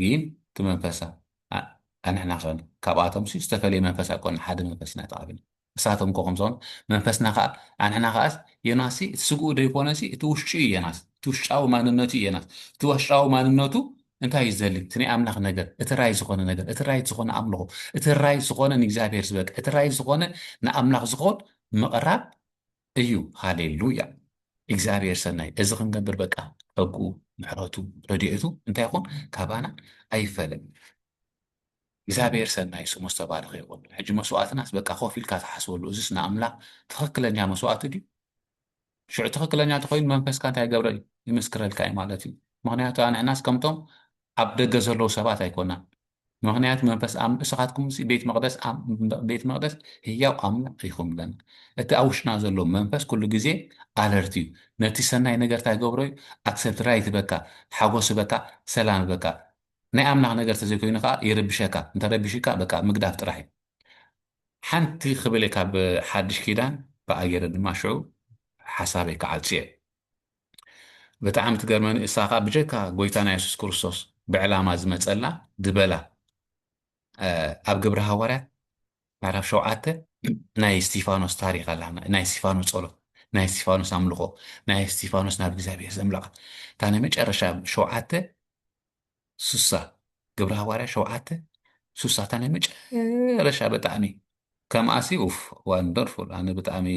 [SPEAKER 1] ግን እቲ መንፈሳ ኣንሕና ከ ካብኣቶም ሲ ዝተፈለየ መንፈስ ኣይኮነ ሓደ መንፈስ ኢና ተቐቢልና ንሳቶም እኮ ከምዞም መንፈስና ከኣ ኣንሕና ከኣስ ዮናስሲ እቲ ስግኡ ደይኮነሲ እቲ ውሽጩ እዩ ዮናስ እቲ ውሽጫዊ ማንነቱ እዩ ዮናስ እቲ ዋሽጫዊ ማንነቱ እንታይ እዩ ዝደሊ እቲ ናይ ኣምላኽ ነገር እቲ ራይት ዝኾነ ነገር እቲ ራይት ዝኾነ ኣምልኾ እቲ ራይት ዝኾነ ንእግዚኣብሔር ዝበቅ እቲ ራይት ዝኾነ ንኣምላኽ ዝኾን ምቕራብ እዩ ሃሌሉያ እግዚኣብሔር ሰናይ እዚ ክንገብር በቃ ጸግኡ ምሕረቱ ረድኤቱ እንታይ ይኹን ካባና ኣይፈለን እግዚኣብሔር ሰናይ ስሙ ዝተባረኸ ይኹን ሕጂ መስዋእትናስ በቃ ኮፍ ኢልካ ትሓስበሉ እዝስ ንኣምላኽ ትኽክለኛ መስዋእቲ ድዩ ሽዑ ትኽክለኛ ተኾይኑ መንፈስካ እንታይ ገብረ እዩ ይምስክረልካ እዩ ማለት እዩ ምክንያቱ ኣንሕናስ ከምቶም ኣብ ደገ ዘለዉ ሰባት ኣይኮናን ምክንያት መንፈስ እስኻትኩም ቤት መቅደስ ቤት መቅደስ ህያው ኣምላኽ ኢኹም ለና እቲ ኣብ ውሽጥና ዘሎ መንፈስ ኩሉ ግዜ ኣለርት እዩ ነቲ ሰናይ ነገርታ ይገብሮ እዩ ኣክሰብት ራይት በካ ሓጎስ በካ ሰላም በካ ናይ ኣምላኽ ነገር ተዘይኮይኑ ከኣ ይርብሸካ እንተረቢሹካ በቃ ምግዳፍ ጥራሕ እዩ ሓንቲ ክብል ካብ ሓድሽ ኪዳን በኣ ጌረ ድማ ሽዑ ሓሳበይ ክዓጹ እየ ብጣዕሚ ትገርመኒ እሳ ከኣ ብጀካ ጎይታና የሱስ ክርስቶስ ብዕላማ ዝመጸላ ዝበላ ኣብ ግብረ ሃዋርያት ምዕራፍ ሸውዓተ ናይ እስጢፋኖስ ታሪክ ኣላ ናይ እስጢፋኖስ ጸሎት ናይ እስጢፋኖስ ኣምልኾ ናይ እስጢፋኖስ ናብ እግዚኣብሔር ዘምለቓ እታ ናይ መጨረሻ ሸውዓተ ሱሳ ግብረ ሃዋርያ ሸውዓተ ሱሳ እታ ናይ መጨረሻ ብጣዕሚ ከምኣሲ ኡፍ ዋንደርፉል ኣነ ብጣዕሚ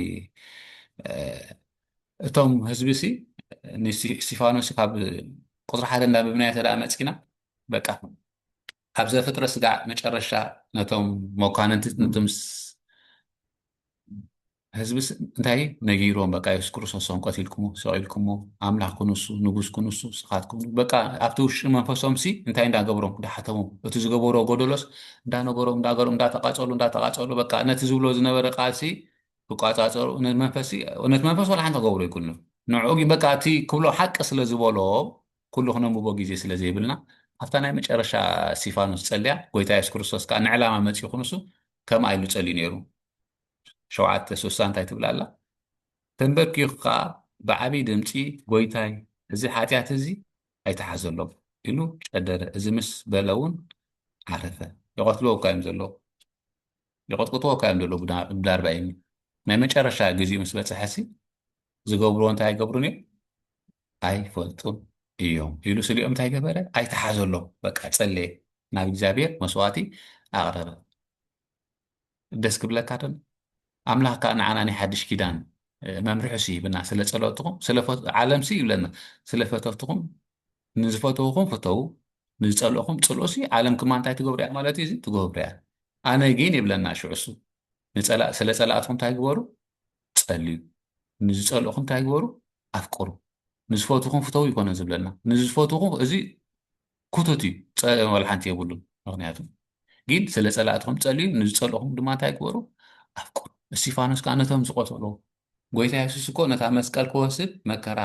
[SPEAKER 1] እቶም ህዝቢ ሲ ንእስጢፋኖስ ካብ ቁፅሪ ሓደ እንዳንበብናዮ ተደኣ መፂና በቃ ኣብ ዘፍጥረ ስጋዕ መጨረሻ ነቶም መኳንንቲ ነቶም ህዝብስ እንታይ ነጊሮም በቃ የሱስ ክርስቶስ ሰንቆት ኢልኩሞ ሰቂልኩሞ ኣምላኽ ክንሱ ንጉስ ክንሱ ስኻትኩም በቃ ኣብቲ ውሽጢ መንፈሶም ሲ እንታይ እንዳገብሮም ዳሓተሞም እቲ ዝገበሮ ጎደሎስ እንዳነገሮም እንዳገሮም እንዳተቃጸሉ እንዳተቃጸሉ በቃ ነቲ ዝብሎ ዝነበረ ቃልሲ ክቋጻጸሩ ነቲ መንፈስ ነቲ መንፈስ ወላ ሓንቲ ገብሮ ይኩኑ ንዕኡ ግን በቃ እቲ ክብሎ ሓቂ ስለ ዝበሎ ኩሉ ክነንብቦ ግዜ ስለ ዘይብልና ኣብታ ናይ መጨረሻ እስጢፋኖስ ጸልያ ጎይታ የሱስ ክርስቶስ ከዓ ንዕላማ መጺኡ ክንሱ ከምኣ ኢሉ ጸልዩ ነይሩ ሸውዓተ ስሳ እንታይ ትብል ኣላ? ተምበርኪኹ ከኣ ብዓቢይ ድምጺ ጎይታይ እዚ ሓጢኣት እዚ ኣይትሓዘሎም ኢሉ ጨደረ እዚ ምስ በለ ውን ዓረፈ። ይቐትልዎካ እዮም ዘለዉ ይቕጥቅጥዎካ እዮም ዘለዉ ብዳርባይኒ ናይ መጨረሻ ግዜኡ ምስ በጽሐሲ ዝገብርዎ እንታይ ኣይገብሩን እዮም ኣይፈልጡን እዮም ኢሉ ስሊኦም እንታይ ገበረ ኣይትሓዘሎም በቃ ጸለየ ናብ እግዚኣብሔር መስዋእቲ ኣቕረበ። ደስ ክብለካ ዶ ኣምላኽ ከዓ ንዓና ናይ ሓድሽ ኪዳን መምርሕሲ ይብና ስለ ጸሎትኹም ስለ ዓለምሲ ይብለና ስለ ፈተትኹም ንዝፈተውኹም ፍተው ንዝጸልእኹም ጽልኡሲ ዓለም ክማ እንታይ ትገብሩ እያ ማለት እዩ ትገብሩ እያ ኣነ ግን ይብለና ሽዑሱ ስለ ጸላእትኩም እንታይ ግበሩ ጸልዩ ንዝጸልእኹም እንታይ ግበሩ ኣፍቅሩ ንዝፈትኹም ፍተው ይኮነ ዝብለና ንዝፈትኹም እዚ ክቱት እዩ ጸ ወላ ሓንቲ የብሉን ምክንያቱ ግን ስለ ጸላእትኩም ጸልዩ ንዝጸልእኹም ድማ እንታይ ግበሩ ኣፍቅሩ እስቲፋኖስ ከዓ ነቶም ዝቆተሉ ጎይታ የሱስ እኮ ነታ መስቀል ክወስድ መከራ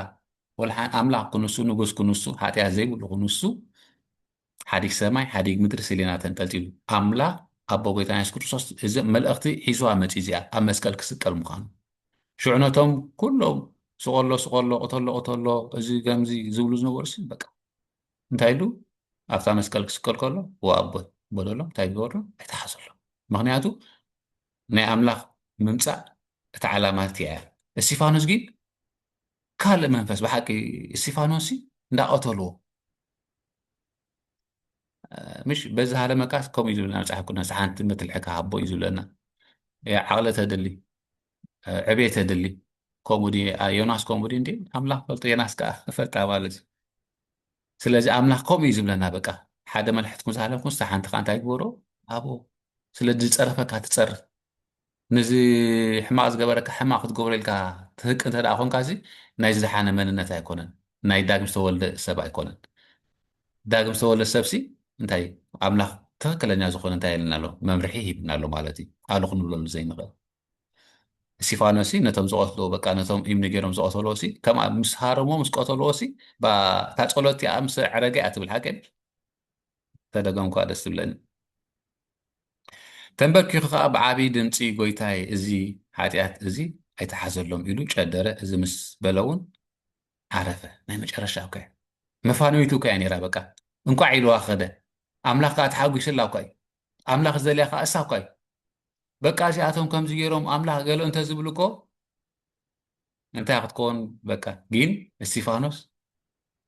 [SPEAKER 1] ወላ ኣምላኽ ክንሱ ንጉስ ክንሱ ሓጢኣት ዘይብሉ ክንሱ ሓዲግ ሰማይ ሓዲግ ምድሪ ስሌና ተንጠልጢሉ ኣምላኽ ኣቦ ጎይታ የሱስ ክርስቶስ እዚ መልእኽቲ ሒዝዋ መፅኡ እዚኣ ኣብ መስቀል ክስቀል ምዃኑ ሽዑ ነቶም ኩሎም ስቆሎ ስቆሎ ቅተሎ ቅተሎ እዚ ከምዚ ዝብሉ ዝነበሩ በቃ እንታይ ኢሉ ኣብታ መስቀል ክስቀል ከሎ ወኣቦይ በለሎም እንታይ ገበሩ ኣይተሓዘሎ ምክንያቱ ናይ ኣምላኽ ምምፃእ እቲ ዓላማት እያ እስቲፋኖስ ግን ካልእ መንፈስ ብሓቂ እስቲፋኖስ እንዳቐተልዎ ምሽ በዚ ሃለመቃስ ከምኡ እዩ ዝብለና መፅሓፍ ቅዱስ ሓንቲ መትልሒ ክሃቦ እዩ ዝብለና ዓቕሊ ተድሊ ዕቤት የድሊ ከምኡ ድዩ ዮናስ ከምኡ ድዩ እንዲ ኣምላኽ ፈልጦ ዮናስ ከዓ እፈልጣ ማለት እዩ ስለዚ ኣምላኽ ከምኡ እዩ ዝብለና በቃ ሓደ መልሕትኩም ዝሃለኩም ስታ ሓንቲ ከዓ እንታይ ግበሮ ኣብኡ ስለ ዝፀረፈካ ትፀርፍ ነዚ ሕማቅ ዝገበረካ ሕማቅ ክትገብሮ ኢልካ ትህቅ እንተ ኮንካ እዚ ናይ ዝደሓነ መንነት ኣይኮነን ናይ ዳግም ዝተወልደ ሰብ ኣይኮነን ዳግም ዝተወልደ ሰብሲ እንታይ ኣምላኽ ትኽክለኛ ዝኾነ እንታይ የለና ኣሎ መምርሒ ሂብና ኣሎ ማለት እዩ ኣሉ ክንብለሉ ዘይንኽእል እስቲፋኖስሲ ነቶም ዝቐትልዎ በቃ ነቶም እምኒ ገይሮም ዝቐተልዎሲ ከምኣ ምስ ሃረሞ ምስ ቀተልዎሲ እታ ጸሎት እቲኣ ምስ ኣዕረገ እያ ትብል ሓቂ ተደገምኳ ደስ ትብለኒ ተንበርኪኹ ከዓ ብዓብዪ ድምፂ ጎይታይ እዚ ሓጢኣት እዚ ኣይተሓዘሎም ኢሉ ጨደረ እዚ ምስ በለ እውን ዓረፈ ናይ መጨረሻ እኳ እዩ መፋነዊቱ እኳ እያ ነይራ በቃ እንኳዕ ኢልዋ ከደ ኣምላኽ ከዓ ተሓጒስላ እኳ እዩ ኣምላኽ ዝደልያ ከኣ እሳ እኳ እዩ በቃ እዚኣቶም ከምዚ ገይሮም ኣምላኽ ገለ እንተዝብሉ እኮ እንታይ ክትከውን በቃ ግን እስቲፋኖስ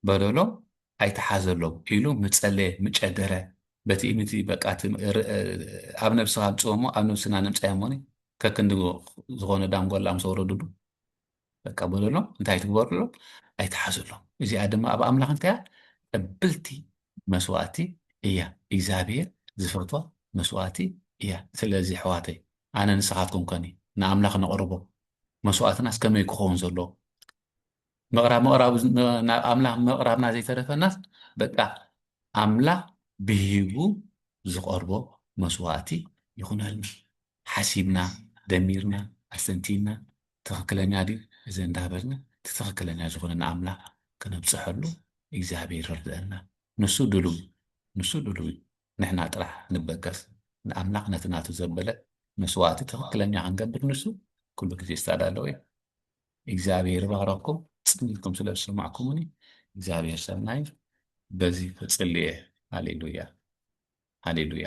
[SPEAKER 1] በደሎም ኣይተሓዘሎም ኢሉ ምፀለየ ምጨደረ በቲ እምቲ በቃ ኣብ ነብስኻ ምፅወሞ ኣብ ነብስና ነምፃዮ ሞኒ ከክንዲ ዝኾነ ዳንጎላ ምስ ወረዱሉ በቃ በለሎም እንታይ ትግበርሎም ኣይትሓዝሎም እዚኣ ድማ ኣብ ኣምላኽ እንታይ እያ ቀብልቲ መስዋእቲ እያ እግዚኣብሔር ዝፈትዋ መስዋእቲ እያ ስለዚ ኣሕዋተይ ኣነ ንስኻትኩም ከኒ ንኣምላኽ ነቕርቦ መስዋእትናስ ከመይ ክኸውን ዘለዎ ምቕራብ ምቕራብ ናብ ኣምላኽ ምቕራብና ዘይተረፈናስ በቃ ኣምላኽ ብሂቡ ዝቐርቦ መስዋእቲ ይኹነልና ሓሲብና ደሚርና ኣስተንቲና ትኽክለኛ ድዩ እዚ እንዳበልና እቲ ትኽክለኛ ዝኾነ ንኣምላኽ ክነብጽሐሉ እግዚኣብሔር ይርድአና። ንሱ ድሉው ንሱ ድሉው እዩ። ንሕና ጥራሕ ንበገስ ንኣምላኽ ነቲ ናቱ ዘበለ መስዋእቲ ትኽክለኛ ክንገብር ንሱ ኩሉ ግዜ ዝተዳለወ እዩ። እግዚኣብሔር ይባረኩም ጽኒትኩም ስለ ዝሰማዕኩምኒ እግዚኣብሔር ሰናይ በዚ ተጽልየ ሃሌሉያ ሃሌሉያ